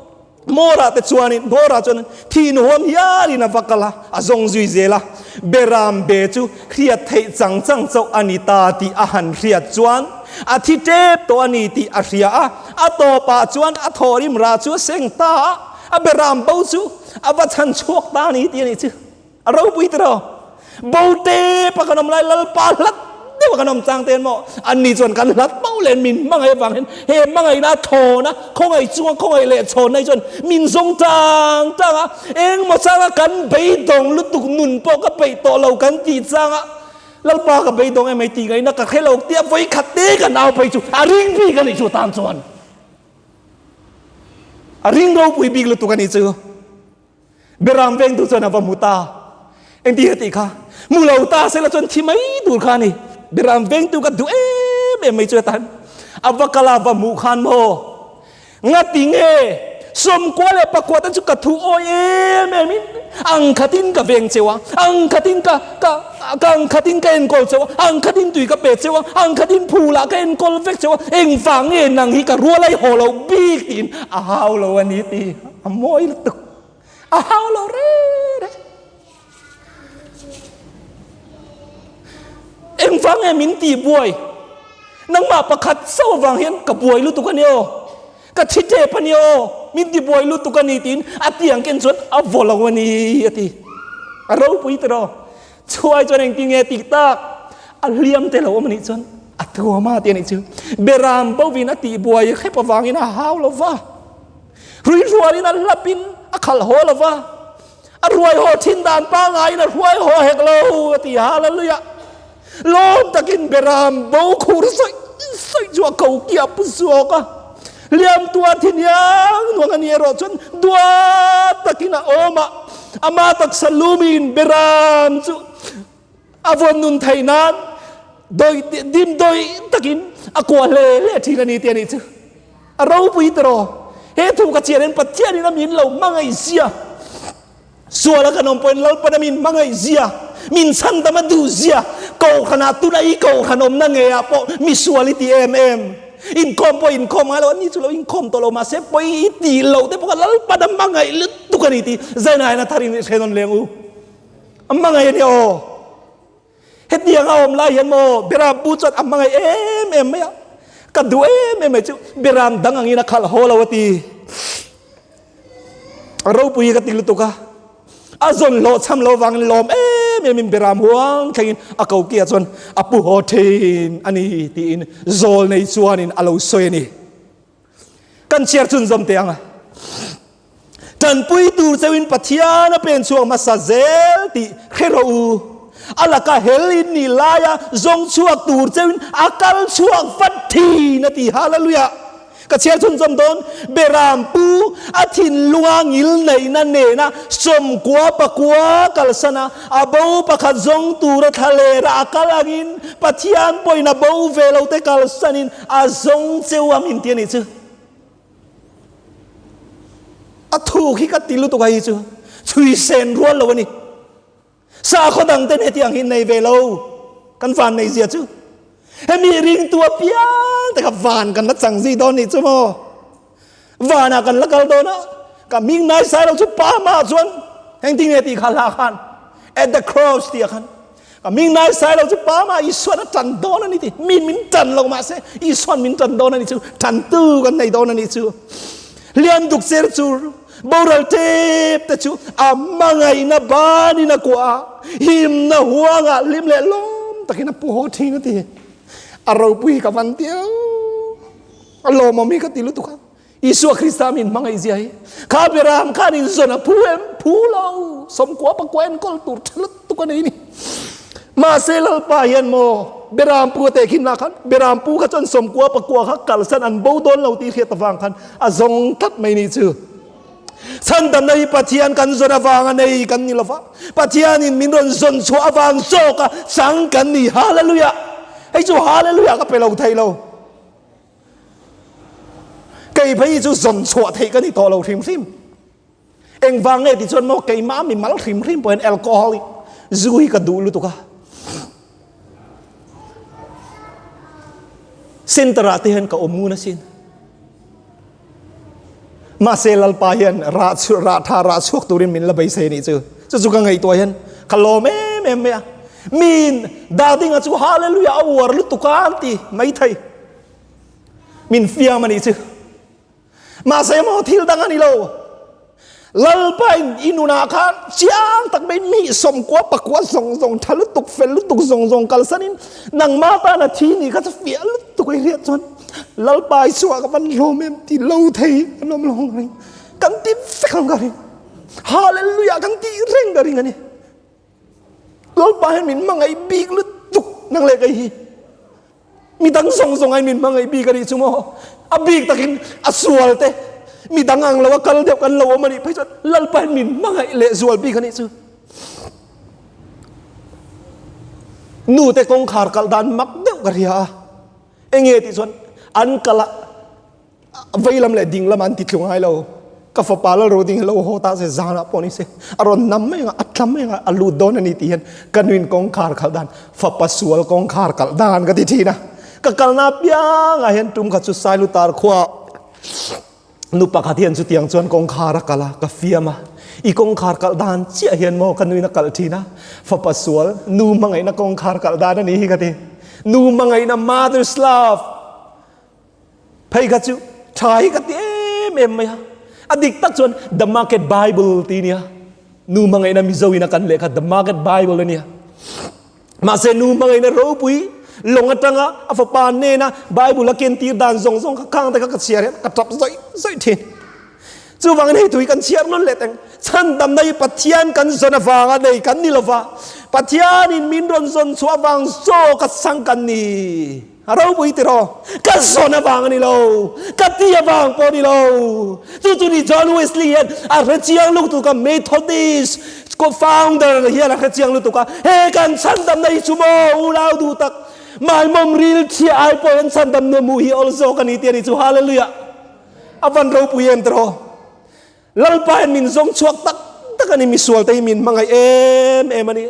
Mora te chuan in Mora chuan in thih nuhawm hial in a va kal a, a zawng zui zel a, Beram be chu Hriat theih chang chang chauh a ni ta tih a han hriat chuan a thi tep tawh a ni tih a hria a. A tawpah chuan a thaw rimrah chu a seng ta a, a be ram bo chu a va chhan chhuak ta a ni tih a nih chu. A ropui tiraw? Bo tep a kan awm lai, Lalpa hlat deuh a kan awm chang te emaw, anni chuan kan hlat bo len min hmangaih avang hian he hmangaihna thawn a, khawngaih chunga khawngaih leh chhawnna hi chuan min zawng tang tang a, Engmaw changa kan beidawng lutuk nun pawh ka peih tawh lo kan tih changa Lalpa ka beidawng em hei tih ngaihna ka hre lo tia vawi khat te kan au phei chu a ring bik a nih chu tan chuan a ring ropui bik lutuk a nih chu Beram veng tur chuan a va mut a engti ka tih kha mu lo ta sela chuan thi mai tur kha a ni Beram veng tur ka duh em em mai chu a tan a va kal a va mu khan maw Ngati nge, sawmkua leh pakua te chu ka thu awi em em in, ang khatin ka veng cheu a, ang khatin ka ka ka ang khatin ka enkawl cheu a, ang khatin tui ka pe cheu a, ang khatin phu lah ka enkawl vek cheu a, engvang nge nang hi ka rual ai haw lo bik tiin a hau lo a ni tih a mawi lutuk, a hau lo reh reh. Engvang nge min ti buai? Nangmah pakhat so vang hian ka buai lutuk a ni aw, ka thi tep a ni aw, min ti buai lutuk a ni tiin a ti ang ken chuan a vaw lo a ni a ti. A ropui ta rawh. Chuai chuan engtin nge tih tak a hliam te lo awm a nih chuan a tuam a ti a nih chu. Beram bo vin a tihbuai khep avangin a hau lo va. Ruihrualin a hlapin a khalh haw lo va, a ruai haw thin dan pangaiin a hruai haw hek lo a ti hal a luih a. Lawm takin Beram bo khur sawih sawih chu a ko ki a pu zawk a. Liamtuar thi niang nuang a nih erawh chuan dua takin a awm a, a mah taksa lumin Beram chu A vawn nun thei nan dawi dim dawi takin a kuah hle hle thin a ni tih a nih chu. A ropui ta raw, he thu ka chianin Pathianin a min lo hmangaih zia, suala kan awm pawhin Lalpana min hmangaih zia, min chhan dam a duh zia, Kohhranah tuna i kohhran awmna ngeiah pawh misual i ti em em? Inkhawm pawh inkhawm ngai lo, ani chu lo inkhawm tawh lo mahse pawi i tih loh te pawh kha Lalpana hmangaih lutuk a ni tih Zainain a tharin i hre nawn leng u. A hmangaih a nia aw. Hetiang a awm lai hian maw Biram pu chuan a hmangaih em em mai a, ka duh em em mai chu Biram dang angin a khalh haw lo a ti. Ropui hi ka ti lutuk a, a zawn hlawh cham lo vangin lawm em emin Biram huang thlengin a ko kiah chuan a pu haw thin a ni tiin zawl nei chuanin a lo sawi a ni. Kan chhiar chun zawm teh ang a. Tanpui tur cheu in Pathian a pen chhuak hmasa zel tih hre rawh u. A laka hel in nih lai a zawng chhuak tur cheu in a kal chhuak vat thin a ti. Hallelujah! Ka chhiar chun zawm dawn. Beram pu a thinlunga ngil neihna nena sawmkua pakua kalsana a bo pakhat zawng tura thlalera a kal angin Pathian pawhin a bo ve lo te kalsan in A zawng cheu a min ti a nih chu. A thuk hi ka ti lutuk a hi chu chhuisen rual lo a ni. Sakhaw dangten hetiang hi nei ve lo kan van nei zia chu. Hemi ringtu apiang te kha van kan la chang zih dawn nih chu maw. Vana kan la kal dawn a, ka hming naisai lo chu pa hmaah chuan heng ti nge tih kha hla khan at the cross tih a khan ka hming naisai lo chu pa hmaah Isuan a tan dawn a ni tih min min tan lo mah se Isuan min tan dawn a ni chu tan tu kan nei dawn a ni chu hliam duk cher chu boral tep te chu a mangaina banin a kuah a himna huanga hlim leh lawm takin a pu haw thin a ti a ropui ka van tia A lawmawm hi ka ti lutuk a, Isua Krista min hmangaihzia hi kha Abraham khan inzawn a phu em phu lo, sawmkua pakua enkawl tur tha lutuk a nei a ni. Mahse Lalpa hian maw Abraham pu a tehkhim lah khan Abraham pu kha chuan sawmkua pakua kha kalsan an bo dawn lo tih hriat avang khan a zawng tlat mai ni chu. Chhantamna hi Pathian kan zawn avang a nei kan ni lova, Pathianin min rawn zawn chhuah avang zawk a chang kan ni. Hallelujah! Hei chu Hallelujah ka pe lo thei lo. Keimah hi chu zawn chhuah theih ka ni tawh lo hrim hrim. Engvang nge ti chuan maw keimah a mi mal hrim hrim pawh hian alcoholic zu hi ka duh lutuk a. Centre ah te hian ka awm ngun asin. Mahse Lalpa hian rah chu rah tha rah chhuak turin min la bei seh nih chu. Chu chu ka ngaihtuah hian ka lawm em em mai a. Min Dadinga chu Hallelujah a uar lutuk a an ti mai thei. Min fiam a nih chu. Mahse maw thil dang a ni lo. Lalpa in i nunah khan chiang tak mai hnih sawmkua pakua zawng zawng tha lutuk fel lutuk zawng zawng kalsan in nangma tana thi nih kha fiah lutuk a hriat chuan Lalpa i chhuah ka van hlawm em ti lo thei an awm lo ang ring kan ti vek ang ka ring Hallelujah kan ti reng ka ring a ni. Lalpa hian min hmangaih bik lutuk nang leh kei hi. Mi dang zawng zawng ahin min hmangaih bik a nih chu maw? A bik takin a sual te mi dang ang lo a kal deuh kan lo awm a nih phei chuan Lalpa hian min hmangaih leh zual bik a nih chu. Nu te kawngkhar kalh dan mak deuh ka hria a, enge tih chuan an kalh a, Veilam leh ding lama an ti tlu ngai lo. Ka fapa lal ro ding hi lo haw ta se, zanah pawh ni se. A rawn nam mai ang, a tlam mai ang, a lut dawn a ni tih hian ka nuin kawngkhar khalh dan, fapa sual kawngkhar kalh dan ka ti thin a. Ka kalna piang ah hian tum kha chu Sailu tar khua nu pakhat hian chutiang chuan kawngkhar a kalh a, ka fiam a. I kawngkhar kalh dan chiah hian maw? Ka nuin a kalh thin a. Fapa sual, nu hmangaihna kawngkhar kalh dan a ni hi ka ti. Nu hmangaihna, mother's love. Phei kha chu tha hi ka ti em em mai a, a dik tak chuan The Market Bible ti nia, nu hmangaihna Mizo ina kan lehkha The Market Bible a nia. Mahse nu hmangaihna ropui lawng atanga a fapa nena Bible a kentir dan zawng zawng kha khangte kha ka chhiar hian ka tap zawih zawih thin. Chuvangin hei tui kan chhiar nawn leh teng. Chhandamna hi Pathian kan zawn avanga nei kan ni lova, Pathianin min rawn zawn chhuah vang chaw ka chhang kan ni. A ropui teh rawh, ka zawn avang a ni lo, ka ti avang pawh a ni lo. Chu chu ni John Wesley hian a hrechiang lutuk a Methodist founder hian a hrechiang lutuk a, he kan chhandam na hi chu maw, u lau duh tak, mai mawm rilchhiah ai pawh hian chhandam na hmuh hi awlzawk a ni tih a ni chu, Hallelujah, a van ropui em teh rawh. Lalpa hian min zawng chhuak tak tak a ni, misualte hi min hmangaih em em a ni.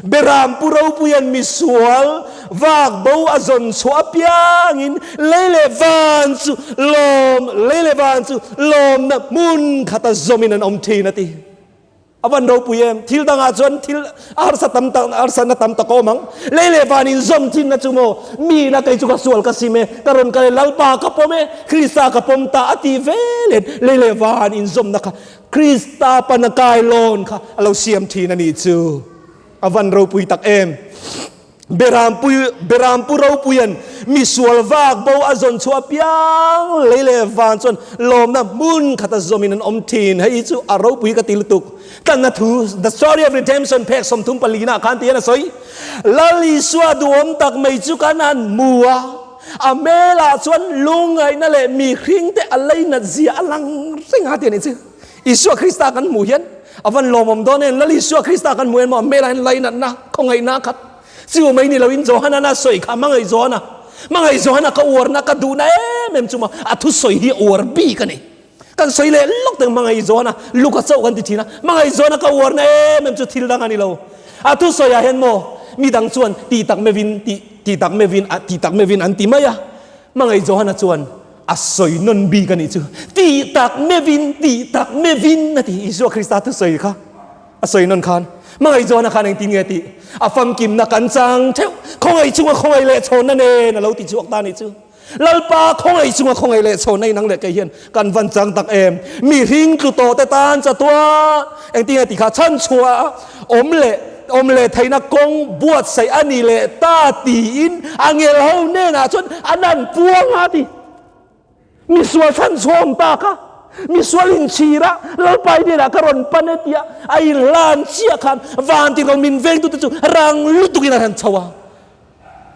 Beram pu Ropui hian misual vak bo a zawn chhuah apiangin lei leh van chu lawm, lei leh van chu lawmna hmun khata zawmin an awm thin a ti. A Van Ropui em, thil dangah chuan thil A harsa tam tak, a harsatna tam tak a awm ang. Lei leh van in zawm thinna chu maw? Mi ila kei chu ka sual ka sim e, ka rawn kal e, Lalpa ka pawm e, Krista ka pawm ta a tih ve let. Lei leh van in zawmna kha Krista pana kailawn kha a lo siam thin a nih chu. A van ropui tak em! Berampu Berampu Ropuia'n misual vak bo a zawn chhuah piang lei leh vang chuan lawmna hmun khata zawmin an awm thin. Hei hi chu a ropui ka ti lutuk. Tlanna thu The Story of Redemption phek sawmthum pali inah khan ti hian a sawi, Lal Isua duhawm tak mai chu kan han hmu a, a hmelah chuan lungngaihna leh mi hringte a lei natzia a lang reng a ti a nih chu. Isua Krista kan hmuh hian a van lawmawm dawn em? Lal Isua Krista kan hmuh em maw? An hmelah hian lei natna, khawngaihna khat chu mai ni loin Johanan a sawi kha a hmangaih zawh a na. Hmangaih zawh a na ka uarna, ka duhna em em chu maw? A thusawi hi a uar bik a ni. Kan sawi leh lawk teng hmangaih zawh a na, Luka chauh kan ti thin a, hmangaih zawh a na ka uarna em em chu thil dang a ni lo. A thusawi ah hian maw mi dang chuan tih tak meuhin, tih tak meuhin, tih tak meuhin an ti mai a, hmangaih zawh a na chuan, A sawi nawn bik a nih chu. Tih tak mevin, tih tak mevin a ti. Isua Krista thu sawi kha a sawi nawn khan hmangaihzuana khan engtin nge tih? A famkimna kan chang theuh. Khawngaih chunga khawngaih lehchhawnna nen a lo ti chhuak ta a nih chu. Lalpa khawngaih chunga khawngaih lehchhawnna inang leh kei hian kan van chang tak em? Mi hringtlu tawhte tan chatuah engtin nge ti kha chhan chhuah a. Awm leh awm leh theihna kawng buatsaih a ni leh ta tiin a ngel ho hnenah chuan a nan puang a ti. Misual fan chhawm tak a, misual inchhir a, Lalpai hnenah ka rawn pan e tia a inhlan chiah khan Vanti rawn min veng tute chu rang lutukin a hran chho a.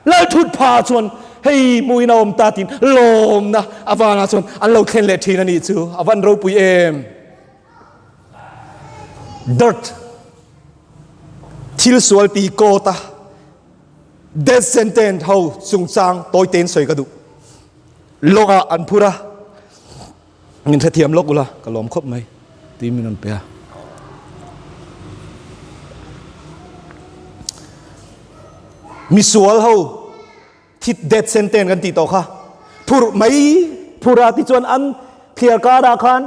Lalthut pha chuan hei muin a awm ta tiin lawmna a vana chuan an lo thlen leh thin a nih chu, a van ropui em? Dirt, thil sualpi coat a death sentence ho chungchang tawitein sawi ka duh. Lawng ah an phur a, min hrethiam lawk ula ka lawm khawp mai tih min rawn pe a. Misual ho. Thit death sentence kan tih tawh kha phurh mai. Phurh a ti chuan an thliar karah khan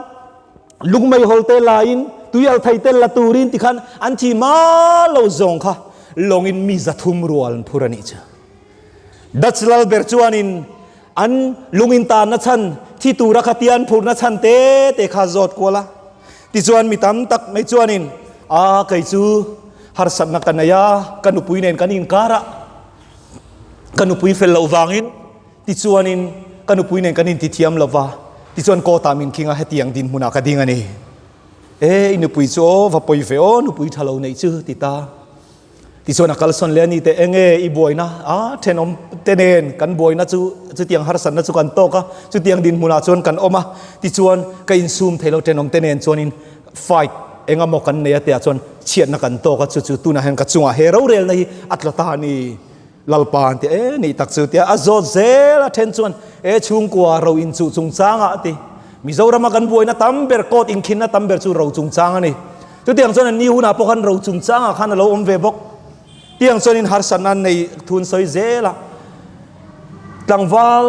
lungmei hawl te laiin tuial thei tel la turin ti khan an thi mal lo zawng kha lawngin mi zathum rual an phurh a nih chu. Dutch lal ber chuanin an lungin tanna chhan thi tura kha tian phurhna chhan te te kha zawt kual a. Tichuan mi tam tak mai chuanin aa kei chu harsatna ka nei a, ka nupui nen kan inkar a. ka nupui fel loh vangin, tichuanin ka nupui nen kan intithiam lo va, tichuan court-ah min khing a, hetiang dinhmunah ka ding a ni. E, i nupui chu aw, va pawi ve aw, nupui tha lo neih chu, ti ta. Tichuan a kalsawn leh a ni teh, Enge i buaina a thenawm te nen kan buaina chu chutiang harsatna chu kan tawk a, chutiang dinhmunah chuan kan awm a, tichuan ka insum thei lo thenawm te nen chuanin Fight, engemaw kan nei a tia chuan chhiatna kan tawk a, chu chu tunah hian ka chungah he rorelna hi a tla ta a ni. Lalpa an ti a, e nih tak chu tia a zawt zel a then chuan e chhungkua ro inchuh chungchanga a ti. Mizorama kan buaina tam ber court inkhinna tam ber chu ro chungchang a ni. Chutiang chuan an ni hunah pawh khan ro chungchanga khan a lo awm ve bawk. Tiang chuan in harsatna an nei thun sawi zel a. Tlangval.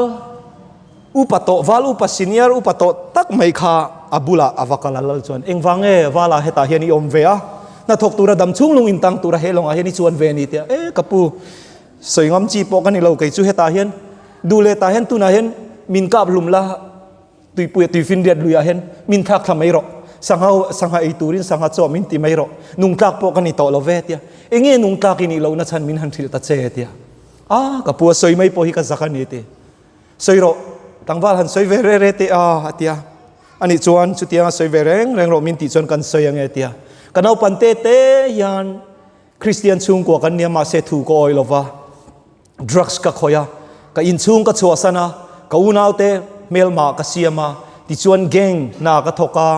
Upa tawh val upa senior upa tawh tak mai kha a bulah a va kal a lal chuan engvang nge vala hetah hian i awm ve a, hnathawk tura dam chhung lung in tang tura he lawngah hian i chuan ve ni tia e ka pu sawi ngam chi pawh ka ni lo kei chu hetah hian dule tah hian tunah hian min kap hlum la tuipuia tuifin riat luiah hian min thlak thla mai rawh sangha sangha ei turin sangha chaw min ti mai rawh nung tlak pawh ka ni tawh lo ve tia enge nung tlak i nih lohna chhan min han hrilh ta che tia a ka pu a sawi mai pawh hi ka zak a ni ti. Sawi rawh, tlangval han sawi ve reh reh teh a, a ti a. A nih chuan, Chutianga sawi ve reng reng rawh min tih chuan kan sawi ange, a ti a. Ka naupan te te hian Kristian chhungkua kan nia mahse thu ka awih lo va, drugs ka khawih a, ka inchhung ka chhuahsan a, ka unaute hmelmah ka siam a, tichuan gang hna ka thawk a,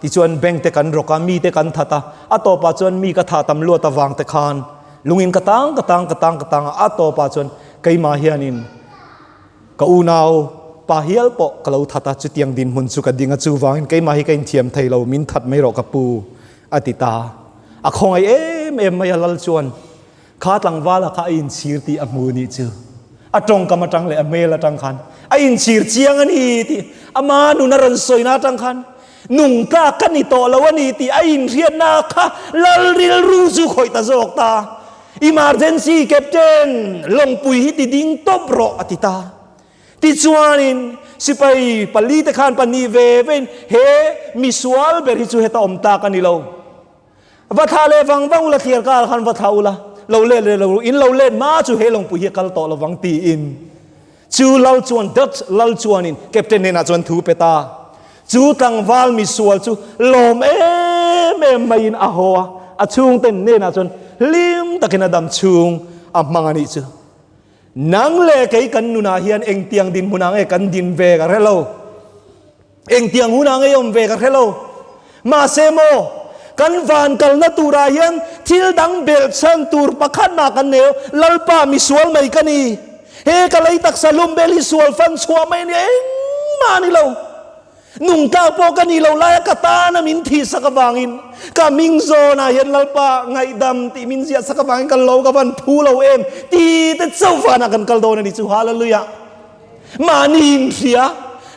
tichuan bank te kan rawk a, mi te kan that a, a tawpah chuan mi ka thah tam luat avang te khan lungin ka tang ka tang ka tang ka tang a, a tawpah chuan Keimah hianin ka unau pa hial pawh ka lo that a, chutiang dinhmun chu ka ding a, chuvangin keimah hi ka inthiam thei lo, min that mai rawh ka pu, a ti ta. A khawngaih em em mai a lal chuan kha tlangvala kha a inchhir tih a hmu nih chu a tawngkam atang leh a hmel atang khan a inchhir chiang a ni tih ama nun a rawn sawi na atang khan nung tlak ka ni tawh lo a ni tih a inhriatna kha lal rilru chu khawih ta zawk ta. Emergency captain lawngpui hi ti ding tawp rawh a ti ta. Tichuanin sipai pali te khan pahnih ve vein he misual ber hi chu heta awm tak a ni lo. Va thlah leh vang vang ula thliar karah khan va thlah ula lo let leh lo in lo let hma chu he lawngpui hi a kal tawh lo vang tiin Chu lal chuan Dutch lal chuanin Captain hnenah chuan thu pe ta. Chu tlangval misual chu lawm em em maiin a haw a, a chhungte hnenah chuan hlim takin a dam chhung a hmang a nih chu. Nang leh kei kan nunah hian engtiang dinhmun ang e kan din ve ka hrelo. Engtiang hunah ngeiawm ve ka hre lo. Mahse maw, kan van kalna turah hian thil dang belhchhan tur pakhatna kan neu, Lalpa, mi sual mai ka ni. He ka lei taksa lumbel hi sual fan chhuah mai ania engmah a ni lo. Nungtlak pawh ka nih loh lai a, ka tana min thihsak avangin, ka ming zawnah hian Lalpa, ngaihdam tih min ziahsak avangin kan lo ka van phu lo em, tite chauh vanah kan kal dawn a ni chu. Hallelujah! Mahni in hria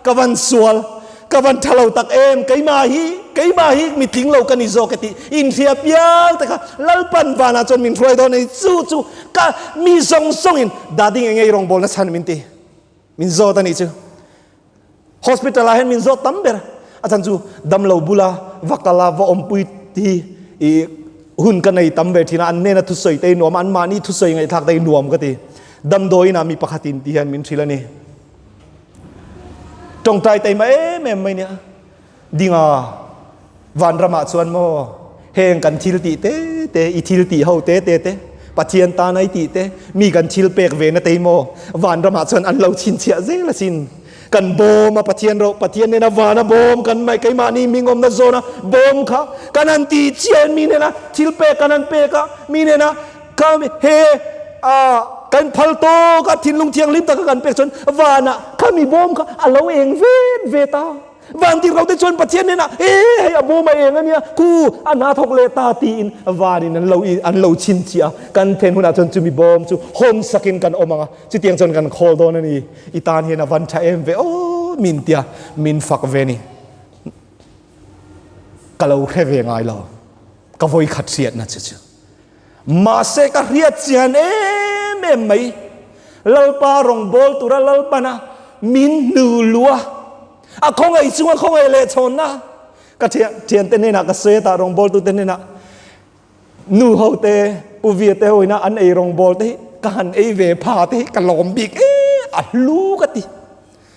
ka van sual, ka van tha lo tak em, keimah hi, keimah hi mi tling lo ka ni zawk e tih in hria piang te kha Lalpan vanah chuan min hruai dawn a ni. Chu chu ka mi zawng zawngin Dading enge i rawngbâwl na chhan min ti, min zawt a nih chu. Hospital ah hian min zawt tam ber a chan chu damlo bula va kal a, va awmpui hi i hun ka nei tam ve thin a, an nena thusawi te i nuam a, an mahni thusawi ngaihthlak te i nuam ka ti. Damdawiin ah mi pakhatin tih hian min hrilh a ni. Tawngtai ta imah em em mai nia. Dinga Vanram ah chuan maw heng kan thil tih te te, i thil tih ho te te te, Pathian tan ai tih te, mi kan thil pek ve na tei maw? Vanram ah chuan an lo chhinchhiah zel asin. Kan bawm a Pathian rawh, Pathian nena van a bawm kan mah e, keimahni hming awmna zawna bawm kha kan han ti chian, mi nena thil pek kan han pek a, mi nena kha he ah kan phal tawk a, thinlung thianghlim taka kan pek chuan vana kha mi bawm kha a lo eng vet vet a, van dirrote chuan Pathian nena he hei a bawm a eng a nia, khu a hna thawk leh ta tiin vanin an lo an lo chhinchhiah a, kan then hunah chuan chumi bawm chu hawn sakin kan awm ang a, chutiang chuan kan khawl dawn a ni. I tan hian a van tha em ve aw min tia min fak ve ni. Ka lo hre ve ngai lo. Ka vawi khat hriat na chu chu. Mahse ka hriat chian em em mai. Lalpa rong bol tura lalpana min hnu lua. A khawngaih chunga khawngaih leh chhawn na. Ka thian thian te nena ka sweat a rong bol tu te nena. Nu ho te, Pu Viet te ho ina an ei rawngbâwl te hi ka han ei ve, pha te hi ka lâwm bik e a hlu ka ti.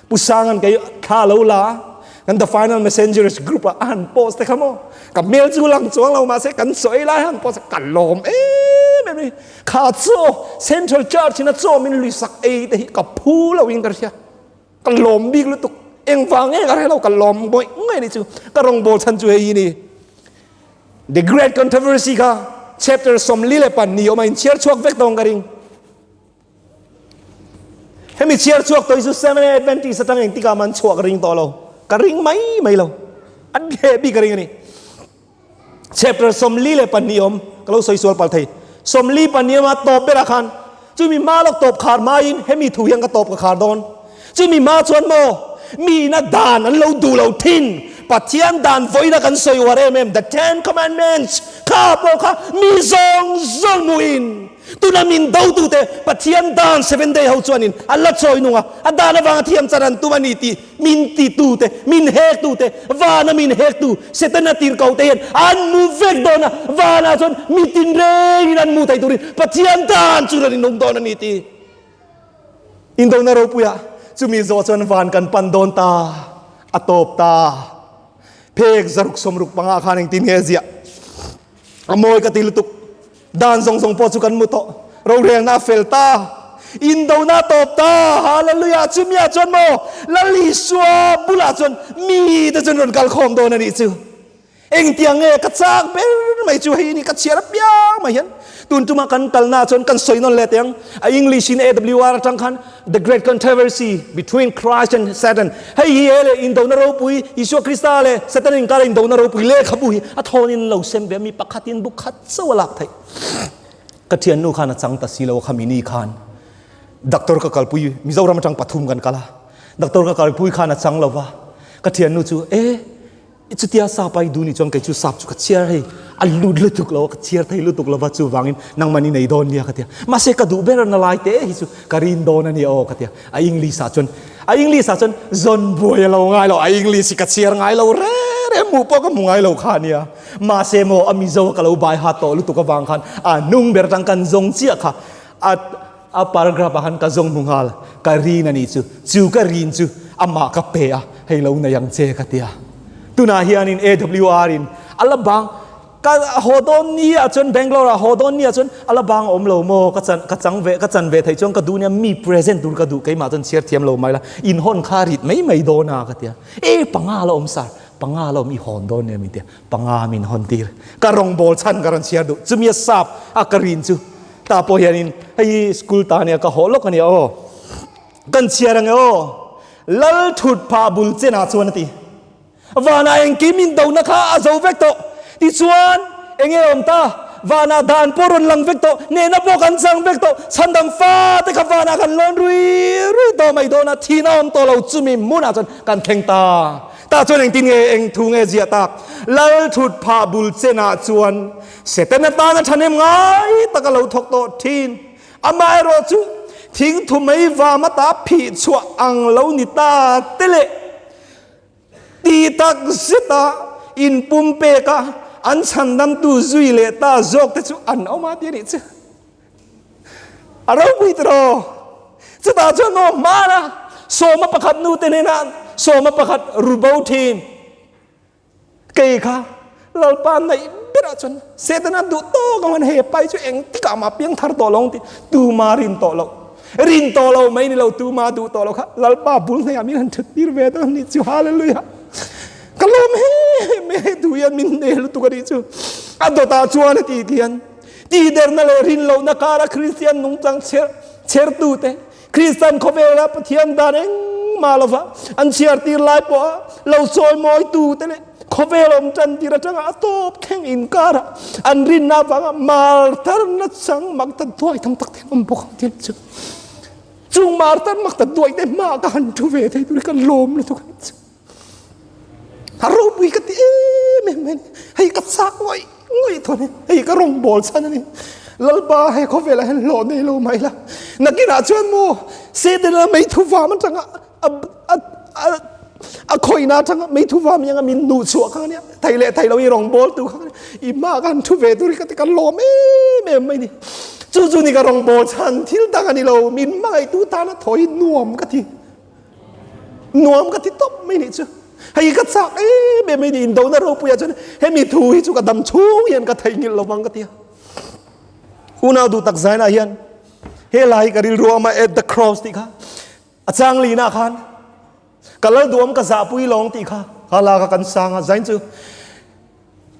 Pu Sanga'n kei thla a lo la a, kan The Final Messengers group-ah a han post te kha maw, ka hmel chu lang chuang lo mahse kan sawi lai han post a, ka lâwm em em i. Kha chaw, Central Church-in a chaw min luisak ei te hi ka phu loin ka hria. Ka lawm bik lutuk, engvang eng a relo ka lawm ngawih ngawih anih chu, ka rawngbâwl chhan chu hei hi ni. The Great Controversy kha chapter sawmli leh pan ni awm a, inchhiar chhuak vek dawng ka ring. Hemi chhiar chhuak tawi chu Seventh-day Adventist atang engtikah man chhuak ring tawh lo, ka ring mai mai lo, a hleh bik ka ring a ni. Chapter sawmli leh pahnih awm, ka lo sawi sual pal thei. Sawmli pahnih awm a, tawp berah khan chu mi hma lawk tawp khar hmain hemi thu hian ka tawp ka khar dawn. Chu mi hma chuan maw mihna dan an lo duh lo thin, Pathian dan vawina kan sawi uar em em, The Ten Commandments, kha pawh kha mi zawng zawng muin tuna min do tute Pathian dan seven day ho chuanin a la chawi nung a, a dan avanga thiam char an tum a ni tih Min titute, min hektute, vana min hektu Setana tirkote hian an mu vek dawn a, vanah chuan mi tinrengin an mu thei turin Pathian tan chu rawn inung dawn a ni tih indona ropuiah chumi zawh chuan van kan pan dawn ta a tawp ta. Phek zaruk sawmruk panga khan engtin nge ziah? A mawi ka ti lutuk. Dan zawng zawng pawh chu kan mu tawh. Rorelna a fel ta. Indona a tawp ta. Hallelujah! Chumia chuan maw Lal Isua bulah chuan mite chuan rawn kal khawm dawn a nih chu. Engtiang nge ka chak ber mai chu hei ni ka chhiar apiang mai hian. Tun tuma kan kalnaah chuan kan sawi nawn leh teh ang. A English in AWR atang khan. The Great Controversy Between Christ and Satan hei hi he leh indona ropui, Isua Krista leh Satan inkara indona ropui lehkhabu hi a thawnin an lo sem ve a, mi pakhatin buk khat chauh a lak theih. Ka thiannu khan a chang ta si lo a, khami ni khan Doctor ka kalpui, Mizoram atang pathum kan kal a, Doctor ka kalpui khan a chang lo va, ka thiannu chu e, Chutia sa pai duh ni chuan kei chu sap chu ka chhiar hei a lut lutuk lo a ka chhiar thei lutuk lova chuvangin nangmah ni nei dawn nia ka tia mahse ka duh ber na lai te hi chu ka rin dawn a nia aw ka tia a English ah chuan a English ah chuan zawn buai a lo ngai lo a English hi ka chhiar ngai lo rek rek hmuh pawh ka hmu ngai lo kha a nia mahse maw a Mizo a ka lo baihat tawh lutuk avang khan a hnung ber tang kan zawng chiah kha a A paragraph ah khan ka zawng hmu nghal, ka rin a nih chu. Chu ka rin chu amah ka pe a, hei lo nei ang che ka ti a. Tunah hianin AWR in a la bang ka haw dawn ni ah chuan Bangalore ah haw dawn ni ah chuan a la bang a awm lo maw ka chan ka chang ve ka chan ve thei chuan ka duh nia mi present tur ka duh keimah chuan chhiar thiam lo mai la inhawn kha rit mai mai dawn a ka ti a. E panga la awm sir, panga la awm i hawn dawn nia min ti a. Panga min hawn tir. Ka rawngbâwl chhan ka rawn chhiar duh. Chumi a sâp a ka rin chu. Tah pawh hianin hei hi school tah ania ka hawh lawk ania aw. Kan chhiar ang e aw. Lal thut phah bul chenah chuan a ti. Vana eng kei min dohna kha a zo vek tawh. Tichuan, Eng e awm ta? Vana dan pawh rawn lang vek tawh. Nena pawh kan chang vek tawh. Chhandam fate kha Vana kan lawn rui rui tawh mai dawn a. Thihna awm tawh lo chumi hmunah chuan kan thleng ta. Tah chuan engtin nge, eng thu nge ziah tak? Lal thut phah bul chenah chuan Satan atan a thahnem ngai tak a lo thawk tawh thin. Amah erawh chu thing thu mai vam atah a phih chhuah ang lo ni ta te le. Ti tak zeta in pumpek a an chhandamtu zui leh ta zawk te chu an awm a ti a nih che. A ropui tawh aw. Chutah chuan aw hmara sawma pakhat nute nena sawma pakhat ru bo thin. Kei kha Lalpa naih berah chuan Satan a duh tawk ang hian hei a pai chu eng tikah mah piang thar tawh lo ang tih tuma rin tawh loh. Rin tawh lo mai ni lo tuma duh tawh loh kha Lalpa bul hnaih ah min han thattir ve dawn anih chu Hallelujah. Ka lawm em em mai a hei duhia min nei lutuk anih chu. A dawtah chuan a titih hian. Tihderna leh rin lohna kara Kristian nungchang chher chhertute, Kristian khawvela Pathian dan engmah lova an chhiartir lai pawha lo sawimawitute leh khawvel awm tantir atanga a tawp thleng inkara an rinna avanga martarna chang maktat duai tam takte an awm bawk ang tih chu chung martarna maktat duaite hmaah ka han thu ve thei tur hi ka lawm lutuk ang che. A ropui ka ti em em mai hei ka chak ngawih ngawih tawh ani hei ka rawn bawl chhan ani Lalpa hei khawvelah hian hlawh nei lo mai la nakinah chuan maw Sedanah mei thuvam atanga a a a a khawina atanga mei thuvam anga min nuh chhuah kha ania thei leh thei lo i rawn bawl tur kha ania i mah khan thu ve tur hi ka ti ka lawm em em mai ni chu chu ni ka rawn bawl chhan thil dang ani lo min hmangaih tu tana thawihin nuam ka ti Nuam ka ti tawp mai nih chu. Hei ka chak em em mai nih indona ropuia chuan hemi thu hi chu ka dam chhung hian ka thei ngilh lovang ka ti a. Unau duhtak zainah hian he la hi ka rilru a mah at the cross tih kha a chang linah khan ka lal duh awm ka zahpui lawng tih kha a lak a kan sang a zain chu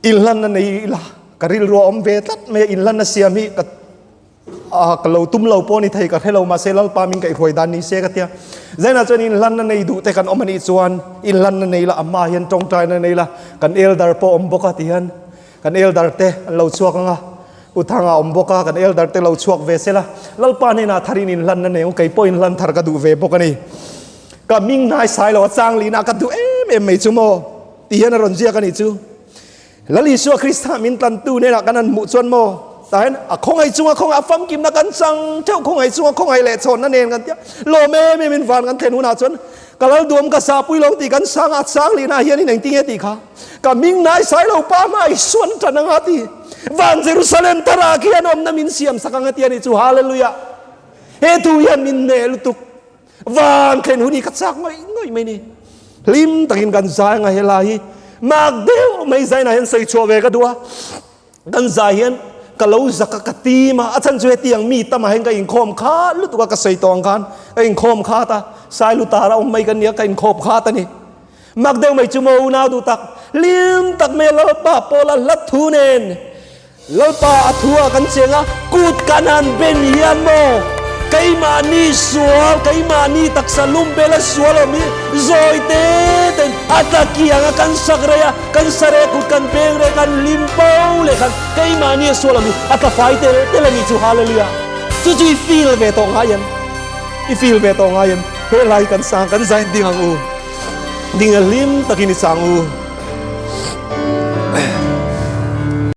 Inhlan a nei ila, ka rilru a awm ve tlat mai a, inhlan a siam hi ka ah ka lo tum lo pawh ani thei ka hre lo mahse lalpa min ka i hruai dan ni se ka tia zaina chuan inhlan na nei duh te kan awm ani chuan inhlan na nei la ama hian tawngtai na nei la kan elder pawh awm bawk a ti hian kan elder te an lo chhuak anga u thanga awm bawk a kan elder te lo chhuak ve se la lalpa hnenah tharin inhlan na nei kei pawh inhlan thar ka duh ve bawk ani ka ming hnai sailo a chang lina ka duh em em mai chu maw Tih hian a rawn ziak a nih chu. Lal Isua Krista min tlantu nena kan han hmuh chuan maw tah hian a khawngaih chunga khawngaih a famkimna kan chang theuh khawngaih chunga khawngaih leh chhawnna nen kan tia lawm em em in van kan thlen hunah chuan ka lal duam ka sa pui lo tih kan sang a chang leh na hian in engti nge tih kha ka ming nai sai lo pa hma i suan tan anga ti van Jerusalem thar ah khian awmna min siam sak anga tia ni chu hallelujah he thu hian min neh lutuk Vân thlen hun hi ka châk ngawih ngawih mai ni. Hlim takin kan zai anga helai hi mâk deuh mai zainah hian sawi chhuah ve ka duh a. Kan zai hian ka lo zak a, ka tîm a. A chhan chu hetiang mi tamah hian ka inkhâwm khât lutuk a, ka sawi tawh ang khan ka inkhâwm khât a. Sai lutar a awm mai ka nia, ka inkhâwp khât a ni. Mak deuh mai chu maw unau duh tak hlim tak mai a Lalpa Paula hlat thu nen Lalpa a thu a kan cheng a kut ka nan ben hian maw keimahni sual keimahni taksa lum bela sual awm hi zawi te ten a tla kiang a kan sak rei a kan sa rei a kut kan beng rei a kan hlim po leh khan keimahni a sual awm hi a tla fai tel tel a nih chu Hallelujah chu chu i feel ve tawh ngai em i feel ve tawh ngai em he lai kan sang kan zain ding ang u. Dinga hlim takin i sang u.